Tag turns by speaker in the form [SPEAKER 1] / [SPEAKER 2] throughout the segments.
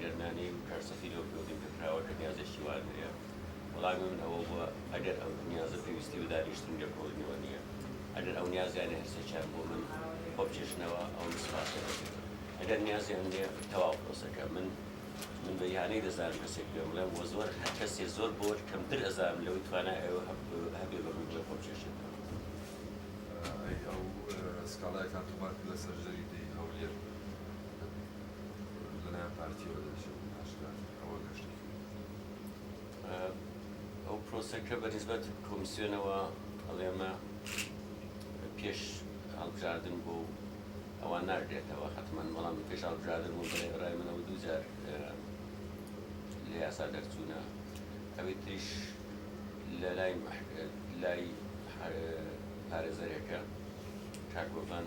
[SPEAKER 1] گەر نانێی و کارسەختی لەو پێوەندی پێکراوە کە نیازێکی وات هەیە؟ وەڵامی من ئەوە بووە ئەگەر ئەم نیازە پێویستی بە دانیشتن و لێکۆڵینەوە نییە، ئەگەر ئەو نیازیانە هەر سێکیان بۆ من خۆبکێشنەوە ئەوە من سپاسیان دەکەم، ئەگەر نیازیان نییە تەواو پرۆسەکە من من بە ئیهانەی دەزانم کەسێک پێم بڵێم وە زۆر هەر کەسێ زۆر بۆر کەمتر ئەزانم لەوەی توانای ئەوە هەبێ بە من بڵێ خۆبکێشێتەوە. ئەی ئەو
[SPEAKER 2] سکاڵایەکان تۆمار کرد لەسەر ژەری دێی هەولێر؟ لەلایەن پارتیەوە دەبێژێت بۆ پاشگەز ئەوە گەش دەکەوێت
[SPEAKER 1] ئەو پرۆسەکە بە نسبەت کۆمیسیۆنەوە ئەڵێمە پێش هەڵبژاردن بۆ ئەوە ناگرێتەوە حتمما بەڵام پێش هەڵبژاردن بۆ ڕای منەوە دووجار لە یاسا دەرچوونە ئەوەی تریش لە لای لای پارێزەرێکە کاک بۆڤان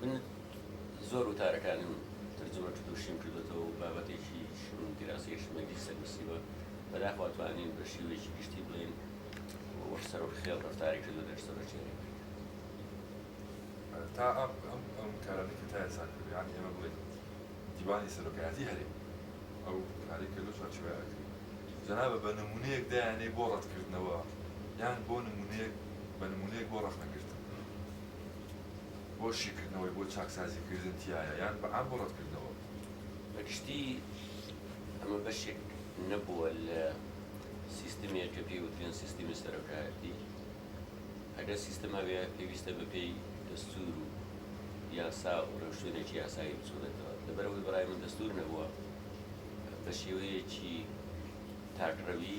[SPEAKER 1] من زۆر وتارەکانم ترجمە کردو شین کردۆتەوە و بابەتێکی شین دیراسەی شمەندی سەر نوسیوە، بەداخوا توانین بە شیوەیەکی گشتی بڵێین وەک سەرۆک خێڵ رەفتاری کردو لەش سەرۆک چێرەی کرد.
[SPEAKER 2] تا ئەم ئەم کارانەی کە تا ئێستا کردو یانی ئێمە بڵێین دیوانی سەرۆکایەتی هەرێم ئەو کارەی کە لەو چوارچێوەیە ئەکرێ جەنابە بە نمونەیەک دایانەی بۆ رەت کردنەوە یان بۆ نمونەیەک بە نمونەیەک بۆ رەخنە گرتن. بۆ شیکردنەوەی بۆ چاکسازی کردن تیایە یان بە عام بۆ ڕەتکردنەوە؟ بە
[SPEAKER 1] گشتی ئەمە بەشێک نەبووە لە سیستمێک کە پێی وترێن سیستمی سەرۆکایەتی. ئەگەر سیستم هەبێ پێویستە بە پێی دەستوور و یاسا و ڕێوشوێنێکی یاسایی بچوڕێتەوە. لەبەر ئەوەی بە ڕای من دەستوور نەبووە بە شێوەیەکی تاکڕەوی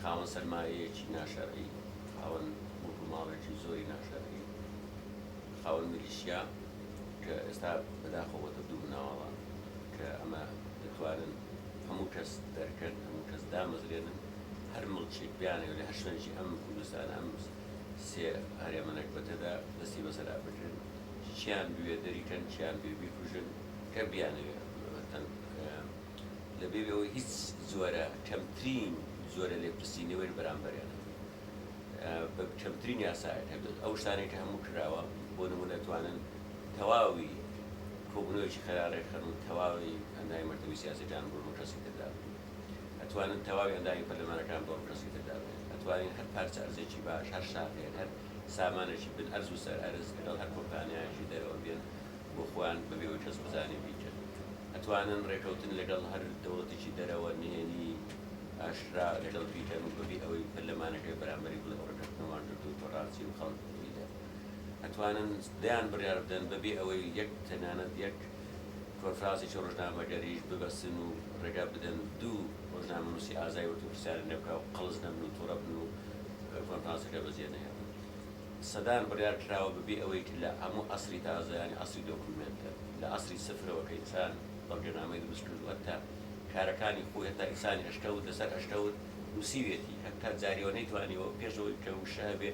[SPEAKER 1] خاوەن سەرمایەیەکی ناشەرعی، خاوەن موڵک و ماڵێکی زۆری ناشەرعی، خاوەن میلیشیا کە ئێستا بەداخەوە بۆتە دوو مناڵە کە ئەمە دەتوانن هەموو کەس دەرکەن، هەموو کەس دامەزرێنن، هەر مڵکێک بیانەوێت لە هەر شوێنێکی ئەم کوردستانە ئەم سێ هەرێمە نەگبەتەدا دەستی بەسەرا بگرن، کێیان بوێ دەریکەن، کێیان بوێ بیکوژن، کە بیانەوێت. لە بێ ئەوەی هیچ جۆرە کەمترین جۆرە لێپرسی نەوەر بەرامبەریان هەبێت بە کەمترین یاسایەک هەبێت ئەو شتانێک کە هەموو کراوە بۆ نمونە توانن تەواوی کۆبنەوەیەکی خەرا ڕێکخەن و تەواوی ئەندامی مەکتەبی سیاسەکان بۆ کەسی تردا ئەتوانن تەواوی ئەندامی پەرلەمانەکان بۆ کەسی تردا بێت ئەتوانین هەر پارچە ئەرزێکی باش هەر شاخێک هەر سامانێکی بن ئەرز و سەر ئەرز لەگەڵ هەر کۆمپانیایەکی دەرەوە بێن بۆ خۆیان بەبێ ئەوەی کەس بزانێ بیکەن ئەتوانن ڕێکەوتن لەگەڵ هەر دەوڵەتێکی دەرەوە نهێنی ئاشکرا لەگەڵ بیکەن و بەبێ ئەوەی پەرلەمانەکەی بەرامبەری بڵێ ئەو ڕێکەوتنەمان کردووە تۆ ڕازی و خەڵک دەبینێ ئەتوانن دەیان بڕیار بدەن بەبێ ئەوەی یەک تەنانەت یەک کۆنفرانسێکی ڕۆژنامەگەریش ببەستن و ڕێگا بدەن دوو ڕۆژنامەنووسی ئازای وەرپرسیارن لێ بکا و قەڵس نەبن و توڕە بن و کۆنفرانسەکە بەجێ نەهێڵن سەدان بڕیار کراوە بەبێ ئەوەی کە لە هەموو عەسری تازە یانی عەسری دۆکومێنتە لە عەسری سفرەوە کە ئینسان بەڵگەنامەی دروست کردوو هەتا کارەکانی خۆی هەتا ئینسانی ئەشکەوت لەسەر ئەشکەوت نووسیوێتی هەتا جاریەوە نەیتوانیوە پێش ئەوەی کە وشە هەبێ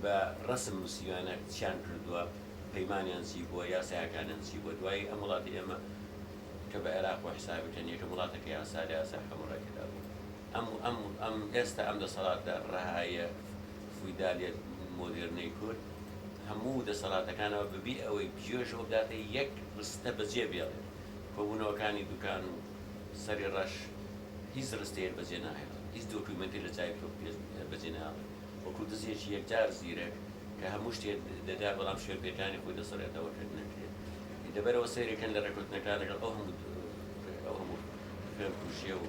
[SPEAKER 1] بە ڕەسم نووسیویانە چیان کردووە پەیمانیان چی بووە یاسایەکانیان چی بووە دوایی ئەم وڵاتی ئێمە کە بە عێراق بۆ حیسابەکەن یەکەم وڵاتە کە یاسا لە یاسای حەموڕەکەدا بوو. ئەم و ئەم و ئەم ئێستا ئەم دەسەڵاتە ڕەهایە فویدالیە مۆدێرنەی کورد هەموو دەسەڵاتەکانەوە بەبێ ئەوەی بجێژ و بداتە یەک ڕستە بەجێ بێڵێت. کۆبوونەوەکانی دوکان و سەری ڕەش هیچ ڕستەیەک بەجێ ناهێڵن، هیچ دۆکیومێنتێک لە چاوی تۆ بەجێ ناهێڵێت. وەکوو دزێکی یەکجار زیرەک کە هەموو شتێ دەدات بەڵام شوێنپێکانی خۆی دەسڕێتەوە کە نەکرێت. دەبەرەوە سەیرێ کەن لە ڕێککەوتنەکان لەگەڵ ئەو هەموو ئەو هەموو خوێنکوژێ و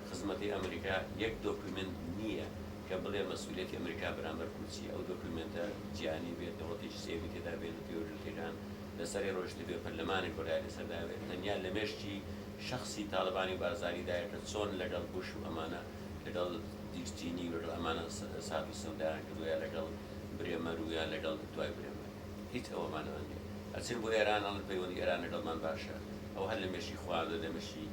[SPEAKER 1] خزمەتی ئەمریکا یەک دۆکومێنت نییە کە بڵێ مەسئولیەتی ئەمریکا بەرامبەر کورد چییە، ئەو دۆکومێنتە جیهانی بێت، دەوڵەتێکی سێیەمی تێدا بێت بە پێی وەرگرتنەکان لەسەری ڕۆیشتبێ، پەرلەمانێک بڕیار لەسەر دابێت، تەنیا لە مێشکی شەخسی تاڵەبانی و بارزانی دایە کە چۆن لەگەڵ بوش و ئەمانە لەگەڵ دیک چینی و لەگەڵ ئەمانە سات و سەودایان کردووە یا لەگەڵ برێمەر و یا لەگەڵ دوای برێمەر هیچ ئەوەمان ئەوە نییە ئەچن بۆ ئێران ئەڵن پەیوەندی ئێران لەگەڵمان باشە ئەوە هەر لە مێشکی خۆیان و لە مێشکی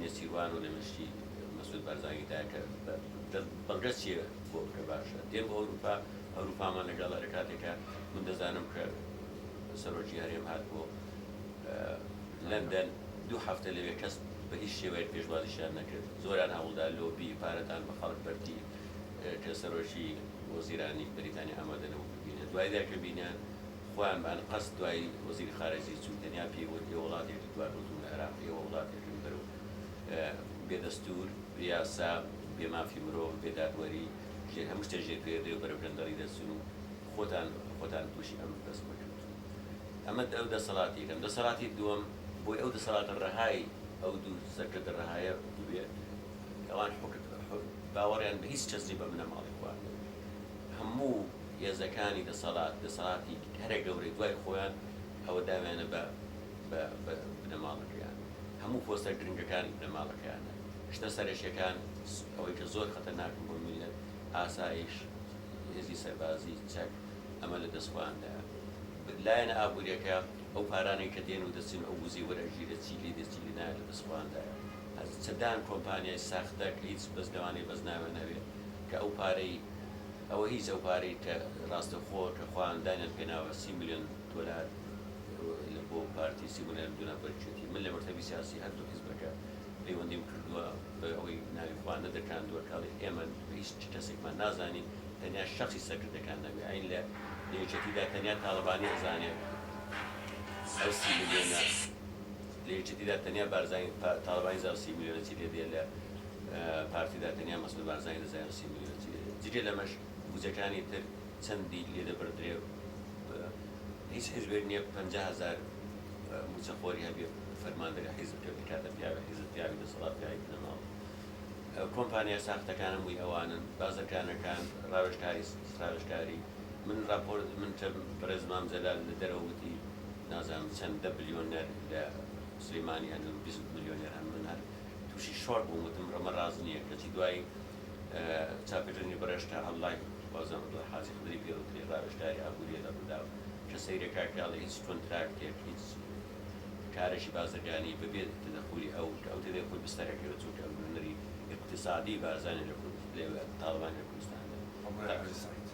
[SPEAKER 1] نێچیروان و لە مشتی مەسود بارزانی دایە کە دە بەڵگەت چیە بۆ بکە باشە دێم بۆ ئەوروپا ئەوروپامان لەگەڵە لە کاتێکە من دەزانم کە سەرۆکی هەرێم هات بۆ لەندەن دوو هەفتە لەوێ کەس بە هیچ شێوەیەک پێشوازیشیان نەکرد زۆران هەوڵدا لۆبی پارەدان بە خەڵک بەرتی کە سەرۆکی وەزیرانی بەریتانی ئامادە نەبوو ببینێت دوای دەکە بینیان خۆیان بە ئەنقەست دوای وەزیری خارەجی چوو تەنیا پێی وت ئێوە وڵاتێکی دواکەوتوون لە عێراق ئێوە وڵاتێکن بەرەو بێ دەستوور بێ یاسا بێ مافی مرۆڤ بێ دادوەری ژێر هەموو شتێ ژێر پێردەی و بەرەو گەندەڵی دەچن و خۆتان خۆتان تووشی ئەم بەس مەکەن ئەمە ئەو دەسەڵاتی یەکەم دەسەڵاتی دووەم بۆی ئەو دەسەڵاتە ڕەهای ئەو دوو سەرکردە ڕەهایە بووێ ئەوان حوکت باوەڕیان بە هیچ کەس نیە بە بنەماڵەی خۆیان هەموو هێزەکانی دەسەڵات، دەسەڵاتی هەرە گەورەی دوای خۆیان ئەوە داویانە بە بە بە بنەماڵەکەیان. هەموو پۆستە گرنگەکان بنەماڵەکەیانە. شتە سەرەکیەکان س ئەوەی کە زۆر خەتەرناکن بۆ میللەت، ئاسایش، هێزی سەربازی، چەک، ئەمە لە دەست خۆیاندایە. ب لایەنە ئابووریەکە ئەو پارانەی کە دێن و دەچن ئەو وزەی وەر ئەگیرێت چی لێ دێ چی لێ نایە لە دەست خۆیاندایە. هە چەدان کۆمپانیای ساختە کە هیچ بەس لەوانەیە بەس ناویان هەبێ. کە ئەو پارەی ئەوە هیچ ئەو پارەی کە ڕاستەوخۆ کە خۆیان دانیان پێناوە سی ملیۆن دۆلار لە بۆ پارتی سی ملیۆن دۆلار بەرچێتی من لە مەکتەبی سیاسی هەردوو حیزبەکە پەیوەندیم کردووە بە ئەوەی ناوی خۆیان نەدرکاندووە کاڵی ئێمە هیچ کەسێکمان نازانین تەنیا شەخصی سەرکردەکان نەبێ ئەین لە لە یەکێتیدا تەنیا تاڵەبانی ئەزانێت ئەو سی ملیۆنە لە یەکێتیدا تەنیا بارزانی تاڵەبانی زانێت سی ملیۆنە چی لێ دێ لە پارتیدا تەنیا مەسعود بارزانی دەزانێت و سی ملیۆن چییە، جگە لەمەش بودجەکانی تر چەندی لێدەبڕدرێ و هیچ حیزبێک نییە پەنجا هەزار مووچەخۆری هەبێ و فەرماندەری حیزب بێ، بکاتە پیاوی حیزب، پیاوی دەسەڵات، پیاوی بنەماڵە. کۆمپانیا ساختەکانە مووی ئەوانن، بازرگانەکان، ڕاوێژکاری ڕاوێژکاری. من ڕاپۆر من تە بەڕێز مام جەلال لە دەرەوە وتی نازانم چەند دە بلیۆنەر لە سلیمانی هەن و بیست ملیۆنێر هەن، من هەر. تووشی شۆک بووم وتم ئەمە ڕاست نییە کەچی دوای چاپێکردنی بڕێژ کە ئەنڵاین وازم عەبدوڵا حاجی خدری پێ وترێ ڕاوێژکاری ئابوورییە لە ڕووداو کە سەیرە کاک پیاڵی هیچ کۆنتراکتێک هیچ کارێکی بازرگانی بەبێ تەدەخولی ئەو کە ئەو تێدەی خۆی بستەر ئەکەوێت چونکە ئەو نوێنەری ئیقتیسادی بارزانیە لە کورد لەوێ تاڵەبانی لە کوردستاندا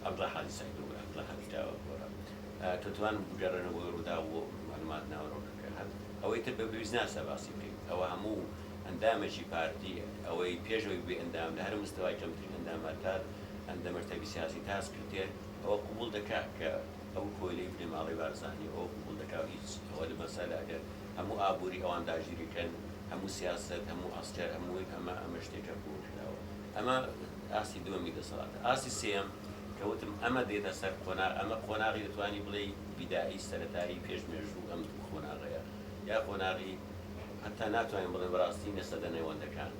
[SPEAKER 1] عەبدوڵا حاجی سەعید بۆ عەبدوڵا حاجی داوا گۆڕا کە توانم بگەڕێنەوە بۆ ڕووداو و مەعلومات ناوەرۆکەکە. هەبوو ئەوەی تر بە پێویست ناسا باسی بکەیت ئەوە هەموو ئەندامەکی پارتی ئەوەی پێش ئەوەی ببی ئەندام لە هەرە مستەوای کەمترین ئەندامە تا ئەندە مەرتەبی سیاسی تا سکرتێر ئەوە قبوڵ دەکا کە ئەو کۆیلەی بنەماڵەی بارزانیە ئەوە قبوڵ دەکا و هیچ ئەوە لە مەسەلە ئەگەر هەموو ئابوری ئەوان داگیری کەن هەموو سیاسەت هەموو عەسکەر هەمووی ئەمە ئەمە شتێکە قبوڵ کراوە ئەمە ئاستی دووەمی دەسەڵاتە ئاستی سێیەم کە وتم ئەمە دێتە سەر قۆناغ ئەمە قۆناغی دەتوانی بڵێی فیدایی سەرەتایی پێش مێژوو ئەم دوو قۆناغەیە یا قۆناغی هەتا ناتوانین بڵێین بەڕاستی نیە سەدە نێوەندەکان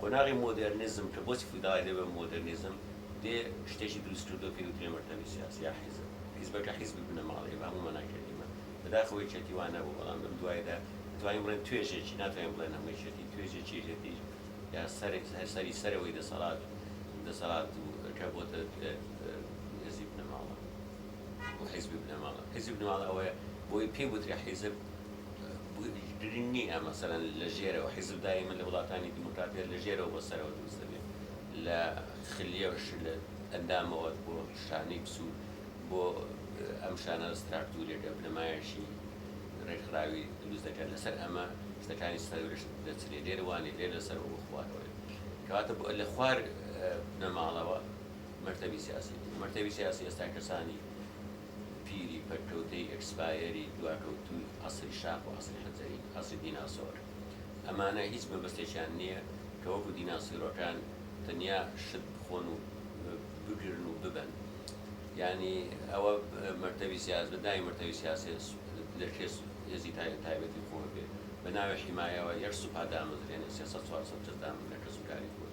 [SPEAKER 1] قۆناغی مۆدێرنیزم کە بۆچی فیداڵی لێ بە مۆدێرنیزم دێ شتێکی دروست کردوە پێی وترێ مەکتەبی سیاسی یا حیزب حیزبەکە حیزبی بنەماڵەیە بە هەموو مانای کەلیمە بەداخەوە یەکێتی وا نەبوو بەڵام لەم دوایدا دەتوانین بڵێن توێژێکی ناتوانین بڵێن هەموو یەکێتی توێژێکی یەکێتی یا سەر سەری سەرەوەی دەسەڵات دەسەڵات و کە بۆتە حیزبی بنەماڵە. و حیزبی بنەماڵە حیزبی بنەماڵە ئەوەیە بۆی پێی وترێ حیزب گرنگ نییە مەسەلەن لە ژێرەوە حیزبدا ئێمە لە وڵاتانی دیموکراتیە لە ژێرەوە بۆ سەرەوە دروست دەبێت لە خلیەش لە ئەندامەوە بۆ شانەی پسوو بۆ ئەم شانە ستراکتورێکە بنەمایەشی ڕێکخراوی دروست دەکات لەسەر ئەمە شتەکانی سەرش دەچرێ لێروانی لێ لەسەر و بخوارەوەی کەواتە لە خوار بنەماڵەوە مەکتەبی سیاسی بوو، مەکتەبی سیاسی ئێستا کەسانی پیری پەککەوتەی ئێکسپایەری دواکەوتووی عەسری شاخ و عەسری حەجەری، عەسری دیناسۆر، ئەمانە هیچ مەبەستێکیان نییە کە وەکو دیناسیرۆکان تەنیا شت بخۆن و بگرن و ببەن یانی ئەوە مەکتەبی سیاسی بە ناوی مەکتەبی سیاسی لە کێ هێزی تایبەتی خۆ بێ بە ناوی حیمایەوە یەک سوپا دامەزرێنێ سێ سەد چوار سەد کەس دامەزرێنێ کەسوکاری خۆی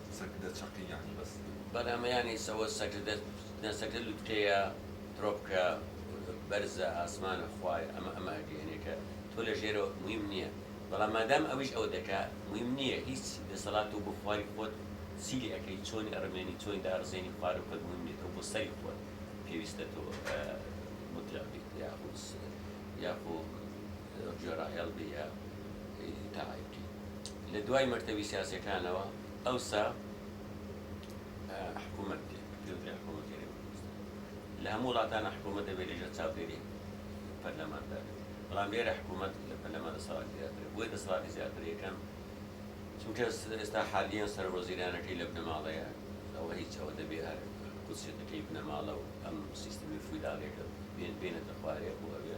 [SPEAKER 2] سەگدە چەقی یانی بەس. بەرهەمەیانی
[SPEAKER 1] سەوە سەگدە نا سەگدە لوتکەیە پرۆپکە بەرزە ئاسمانە خوایە ئەمە ئەمە ئەگەیەنێ کە تۆ لە ژێرەوە مویم نیە بەڵام مادام ئەویش ئەوە دەکا مویم نیە هیچ دەسەڵات تۆ بۆ خواری خۆت چی لێ ئەکەی چۆنی ئەڕمێنی چۆنی داڕزێنی خوارە خۆت مویم نیە تۆ بۆ سەری خۆت پێویستە تۆ مطلق بیت یاخو یاخو جۆرا هێڵبی ە ئیدی تاعیبتی لە دوای مەکتەبی سیاسیەکانەوە ئەوسا حکومەت دێ پێوترێ حکومەت گەرێ کوردستان لە هەموو وڵاتانە حکومەت دەبێت لەژێر چاودێری پەرلەمان دابێت بەڵام لێرە حکومەت لە پەرلەمان دەسەڵاتی زیاترە بۆیە دەسەڵاتی زیاتر یەکەم چونکە ئێستا حالیەن سەر وەزیرانەکەی لە بنەماڵەیە ئەوە هیچ ئەوە دەبێ هەر قودسێتەکەی بنەماڵە و ئەم سیستمی فیوداڵیەکە بێنێتە خوارێ بۆ ئەوێ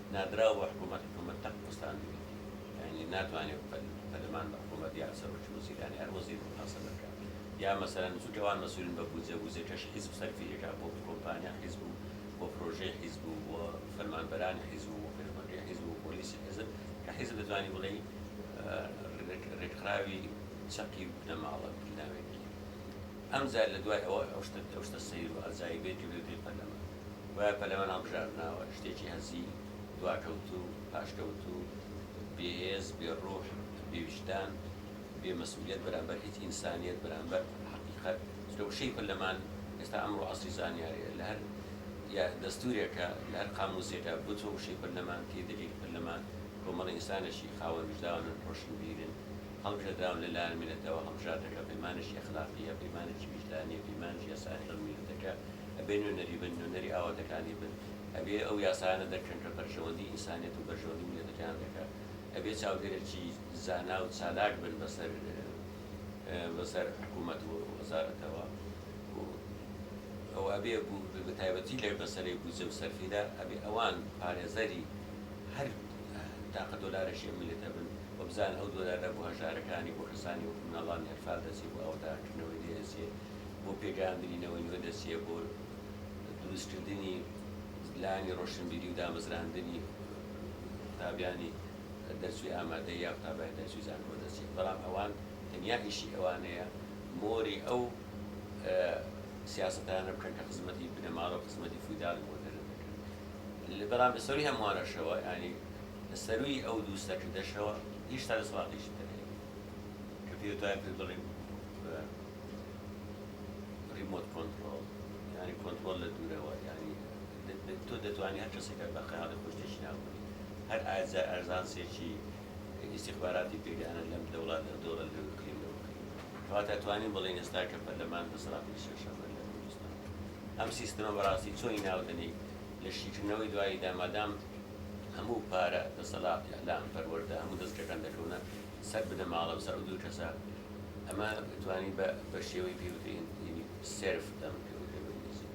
[SPEAKER 1] نادراو بە حکوومەت، حکوومەت تەق وەستاندووی، یانی ناتوانێ پەدەمان بە حکوومەت یا سەرۆکی وەزیران، هەر وەزیر موحاسەبە بکا. یا مەسەلەن چونکە ئەوان مەسوولن بە بوودجە، بوودجەکەش حیزب سەرفی ئەکا بۆ کۆمپانیا حیزب و بۆ پرۆژەی حیزب و بۆ فەرمانبەرانی حیزب و بۆ پێشمەرگەی حیزب و پۆلیسی حیزب کە حیزب دەتوانی بڵێی رێکخراوی چەقی بنەماڵە بناوێکی ئەم جار لە دوای ئەوەی ئەو شتە ئەو شتە سەیر و عەجایبەی کە بێ پێی پەلەمان گوایە پەلەمان هەڵبژاردناوە، شتێکی هەزیو، دواکەوتوو، پاشکەوتوو، بێ هێز، بێ ڕوح، بێ ویژدان، بێ مەسئولیەت بەرامبەر هیچ ئینسانیەت، بەرامبەر حەقیقەت، چونکە وشەی پەلەمان ئێستا ئەمڕۆ عەسری زانیاریە لە هەر یا دەستورێکا لە هەر قاموسێکا بچۆ وشەی پەلەمان تێی دەگەی پەلەمان کۆمەڵە ئینسانێکی خاوەن ویژداون ڕۆشنبیرن، هەڵبژێردراون لە لایەن میللەتەوە، هەڵبژاردەکە پەیمانێکی ئەخلاقییە، پەیمانێکی ویژدانییە، پەیمانێکی یاسایە لەگەڵ میللەتەکە، ئەبێ نوێنەری بن، نوێنەری ئاواتەکانی بن، ئەبێ ئەو یاسایانە دەرکەن کە بەرژەوەندی ئینسانیەت و بەرژەوەندی میللەتەکەیان دەکات، ئەبێ چاودێرێکی زانا و چالاک بن بەسەر بەسەر حکوومەت و وەزارەتەوە و و ئەبێ بەتایبەتی لە مەسەلەی بودجە و سەرفیدا ئەبێ ئەوان پارێزەری هەر تاقە دۆلارەشی ئەم میللەتە بن و بزانن ئەو دۆلارە بۆ هەژارەکانی، بۆ کەسانی وەکو مناڵانی ئەنفال دەچێ، بۆ ئاوەدانکردنەوەی لێ دەچێ، بۆ پێگەیاندنی نەوەی نوێ دەچێ، بۆ دروستکردنی لایەنی ڕۆشنبیری و دامەزراندنی قوتابیانی دەرچووی ئامادەیی یا قوتابیانی دەرچووی زانکۆ دەچێ، بەڵام ئەوان تەنیا ئیشی ئەوانەیە مۆری ئەو سیاسەتانە بکەن کە خزمەتی بنەماڵە و خزمەتی فیوداڵی مۆدێرن دەکەن. بەڵام لە سەرووی هەمووانەشەوە، یانی لە سەرووی ئەو دوو سەرکردەشەوە، هیشتا دەسەڵاتێکی تر هەیە کە پێی وتوایە پێت بڵیم بە ڕیمۆت کۆنتڕۆڵ، یانی کۆنتڕۆڵ لە دوورەوە، یانی تۆ دەتوانی هەر کەسێکە بە خەیاڵی خۆی شتێکی ناوببەی، هەر ئەرزانسێکی. ئیستیخباراتی پێگانە لەم لە وڵاتە دۆڵە لەوێ بکرێ لەوە بکرێ کەواتە توانیم بڵێین ئێستا کە پەرلەمان دەسەڵاتی لەسەر شەڕە لە کوردستان ئەم سیستمە بەڕاستی چۆنی ناو دەنێی لە شیکردنەوەی دواییدا مادام هەموو پارە دەسەڵات ئیعلام پەروەردە هەموو دەزگەکان دەکەونە سەر بنەماڵە بەسەر ئەو دوو کەسە ئەمە توانی بە بە شێوەی پێوترین یعنی سێرف دەم کە وتە بە ئینگلیزی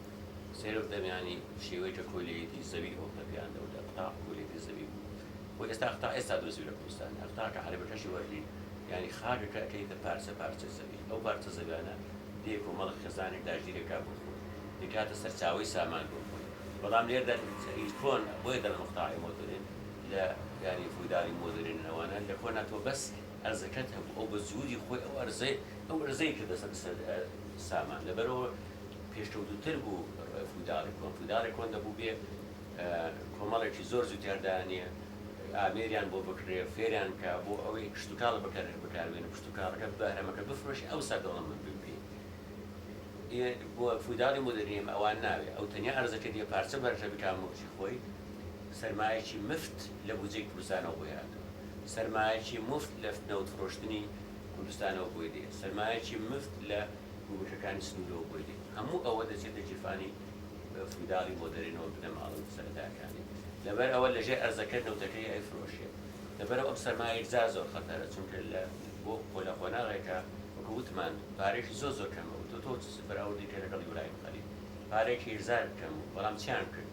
[SPEAKER 1] سێرف دەم یعنی شێوەی کە کۆلیەتی زەوی ئەو پەپیان دەودا قوتاق کۆلیەتی زەوی بوو بۆ ئێستا تا ئێستا دۆزیوە لە کوردستان ئەقتاکە عەرەبەکەشی وەرگری یانی خاکەکە ئەکەیتە پارچە پارچە زەوی ئەو پارچە زەویانە دێ کۆمەڵە خێزانێک داگیری ئەکا بۆ خۆی دەیکاتە سەرچاوەی سامان بۆ خۆی بەڵام لێردەن ئی کۆن بۆیە دەڵێن ئەقتاعی مۆدرن لە یانی فودالی مۆدرن ئەوانە لە کۆنا تۆ بەس ئەرزەکەت هەبوو ئەو بە جووری خۆی ئەو ئەرزەی ئەو ئەرزەی کردە سە سە سامان لەبەرئەوە پێشکەوتووتر بوو فوداڵی کۆن فوداڵی کۆن دەبوو بێ کۆمەڵێکی زۆر جووتی هەردانێ ئامێریان بۆ بکڕێ فێریان بکە بۆ ئەوەی کشتوکاڵ بەکەر بکاربێنن کشتوکاڵەکە بەهرەمەکە بفرۆشی ئەوسا دەوڵەمەند بن پێی ئێ بۆ فوداڵی مۆدێرنی ئەم ئەوان ناوێ ئەو تەنیا ئەرزەکەی دێ پارچە بەرژە بکا موڵکی خۆی سەرمایەکی مفت لە بودجەی کوردستانەوە بۆی هاتووە سەرمایەکی مفت لە نەوت فرۆشتنی کوردستانەوە بۆی دێ سەرمایەکی مفت لە گومرکەکانی سنوورەوە بۆی دێ هەموو ئەوە دەچێتە گیرفانی فیوداڵی بۆ دەرێنەوە بنەماڵە و سەرەتاکانی، لەبەر ئەوە لە ژێر ئەرزەکە نەوتەکەی ئەیفرۆشێ. لەبەرئەو ئەم سەرمایە یەکجار زۆر خەتەرە، چونکە لە بۆ خۆ لە قۆناغێکە وەکو وتمان پارەیەکی زۆر زۆر کەمە و تۆ تۆ چ بەراوردی کە لەگەڵ یورایم خەلیل پارەیەکی یەکجار کەم بوو بەڵام چیان کرد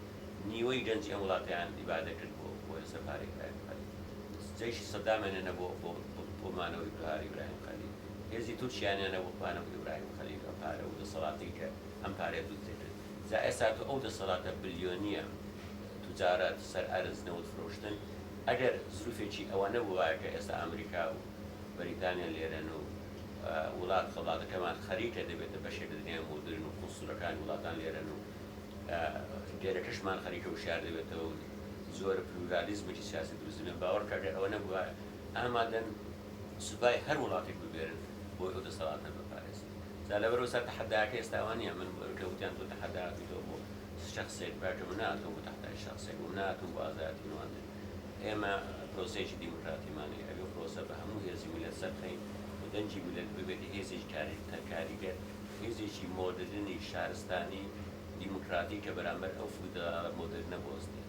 [SPEAKER 1] نیوەی گەنجی ئەم وڵاتەیان ئیبادە کرد بۆ بۆ لەسەر پارەی یورایم خەلیل جەیشی سەدامیان هێنا بۆ بۆ بۆ مانەوەی بەهاری یورایم خەلیل هێزی تورکیایان هێنا بۆ مانەوەی یورایم خەلیل ئەم پارە و دەسەڵاتەی کە ئەم پارەیە بدزێنن جا ئێستا تۆ ئەو دەسەڵاتە بلیۆنیە توجارەت سەر ئەرز نەوت فرۆشتن ئەگەر زروفێکی ئەوە نەبوایە کە ئێستا ئەمریکا و بەریتانیا لێرەن و وڵات خەباتەکەمان خەریکە دەبێتە بەشێک لە دنیای مۆدرن و قونسولەکانی وڵاتان لێرەن و لێرەکەشمان خەریکە وشیار دەبێتەوە و جۆرە پلورالیزمێکی سیاسی دروست دەبێت باوەڕکە گەر ئەوە نەبوایە ئامادەن سوپای هەر وڵاتێک ببێرن بۆی ئەو دەسەڵاتە بپارێزن جا لەبەرئەوە سا تەحەداکە ئێستا ئەوە نیە من کە وتیان تۆ تەحەدا ئەکەیتەوە بۆ شەخسێک براکەم من ناتۆم بۆ تەحدای شەخسێک بووم ناتۆم بۆ ئازایەتی نواندن ئێمە پرۆسەیەکی دیموکراتیمان هەیە ئەبێ پرۆسە بە هەموو هێزی میللەت سەربخەین و دەنگی میللەت ببێتە هێزێکی کاریگە کاریگەر هێزێکی مۆدرنی شارستانی دیموکراتیک کە بەرامبەر ئەو فیوداڵە مۆدرنە بوەستێت.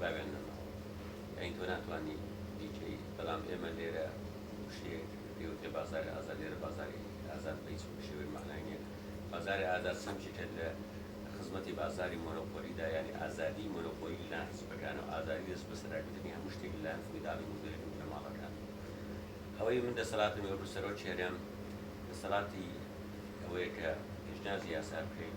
[SPEAKER 1] باویان نەماوە یانی تۆ ناتوانی بیکەی بەڵام ئێمە لێرە وشەیەک پێی وترێ بازاری ئازاد لێرە بازاری ئازاد بەهیچ شێوەیەک مەعنای نیە بازاری ئازاد سەمجێکە لە خزمەتی بازاری مۆنۆپۆلیدا یانی ئازادی مۆنۆپۆلی لەلایەن حزبەکانە و ئازادی دەست بەسەراگرتنی هەموو شتێک لەلایەن فیوداڵی مزدووریەتی و بنەماڵەکان ئەوەی من دەسەڵاتم وەکو سەرۆک کێرم دەسەڵاتی ئەوەیە کە پێشنیازی یاسا بکەین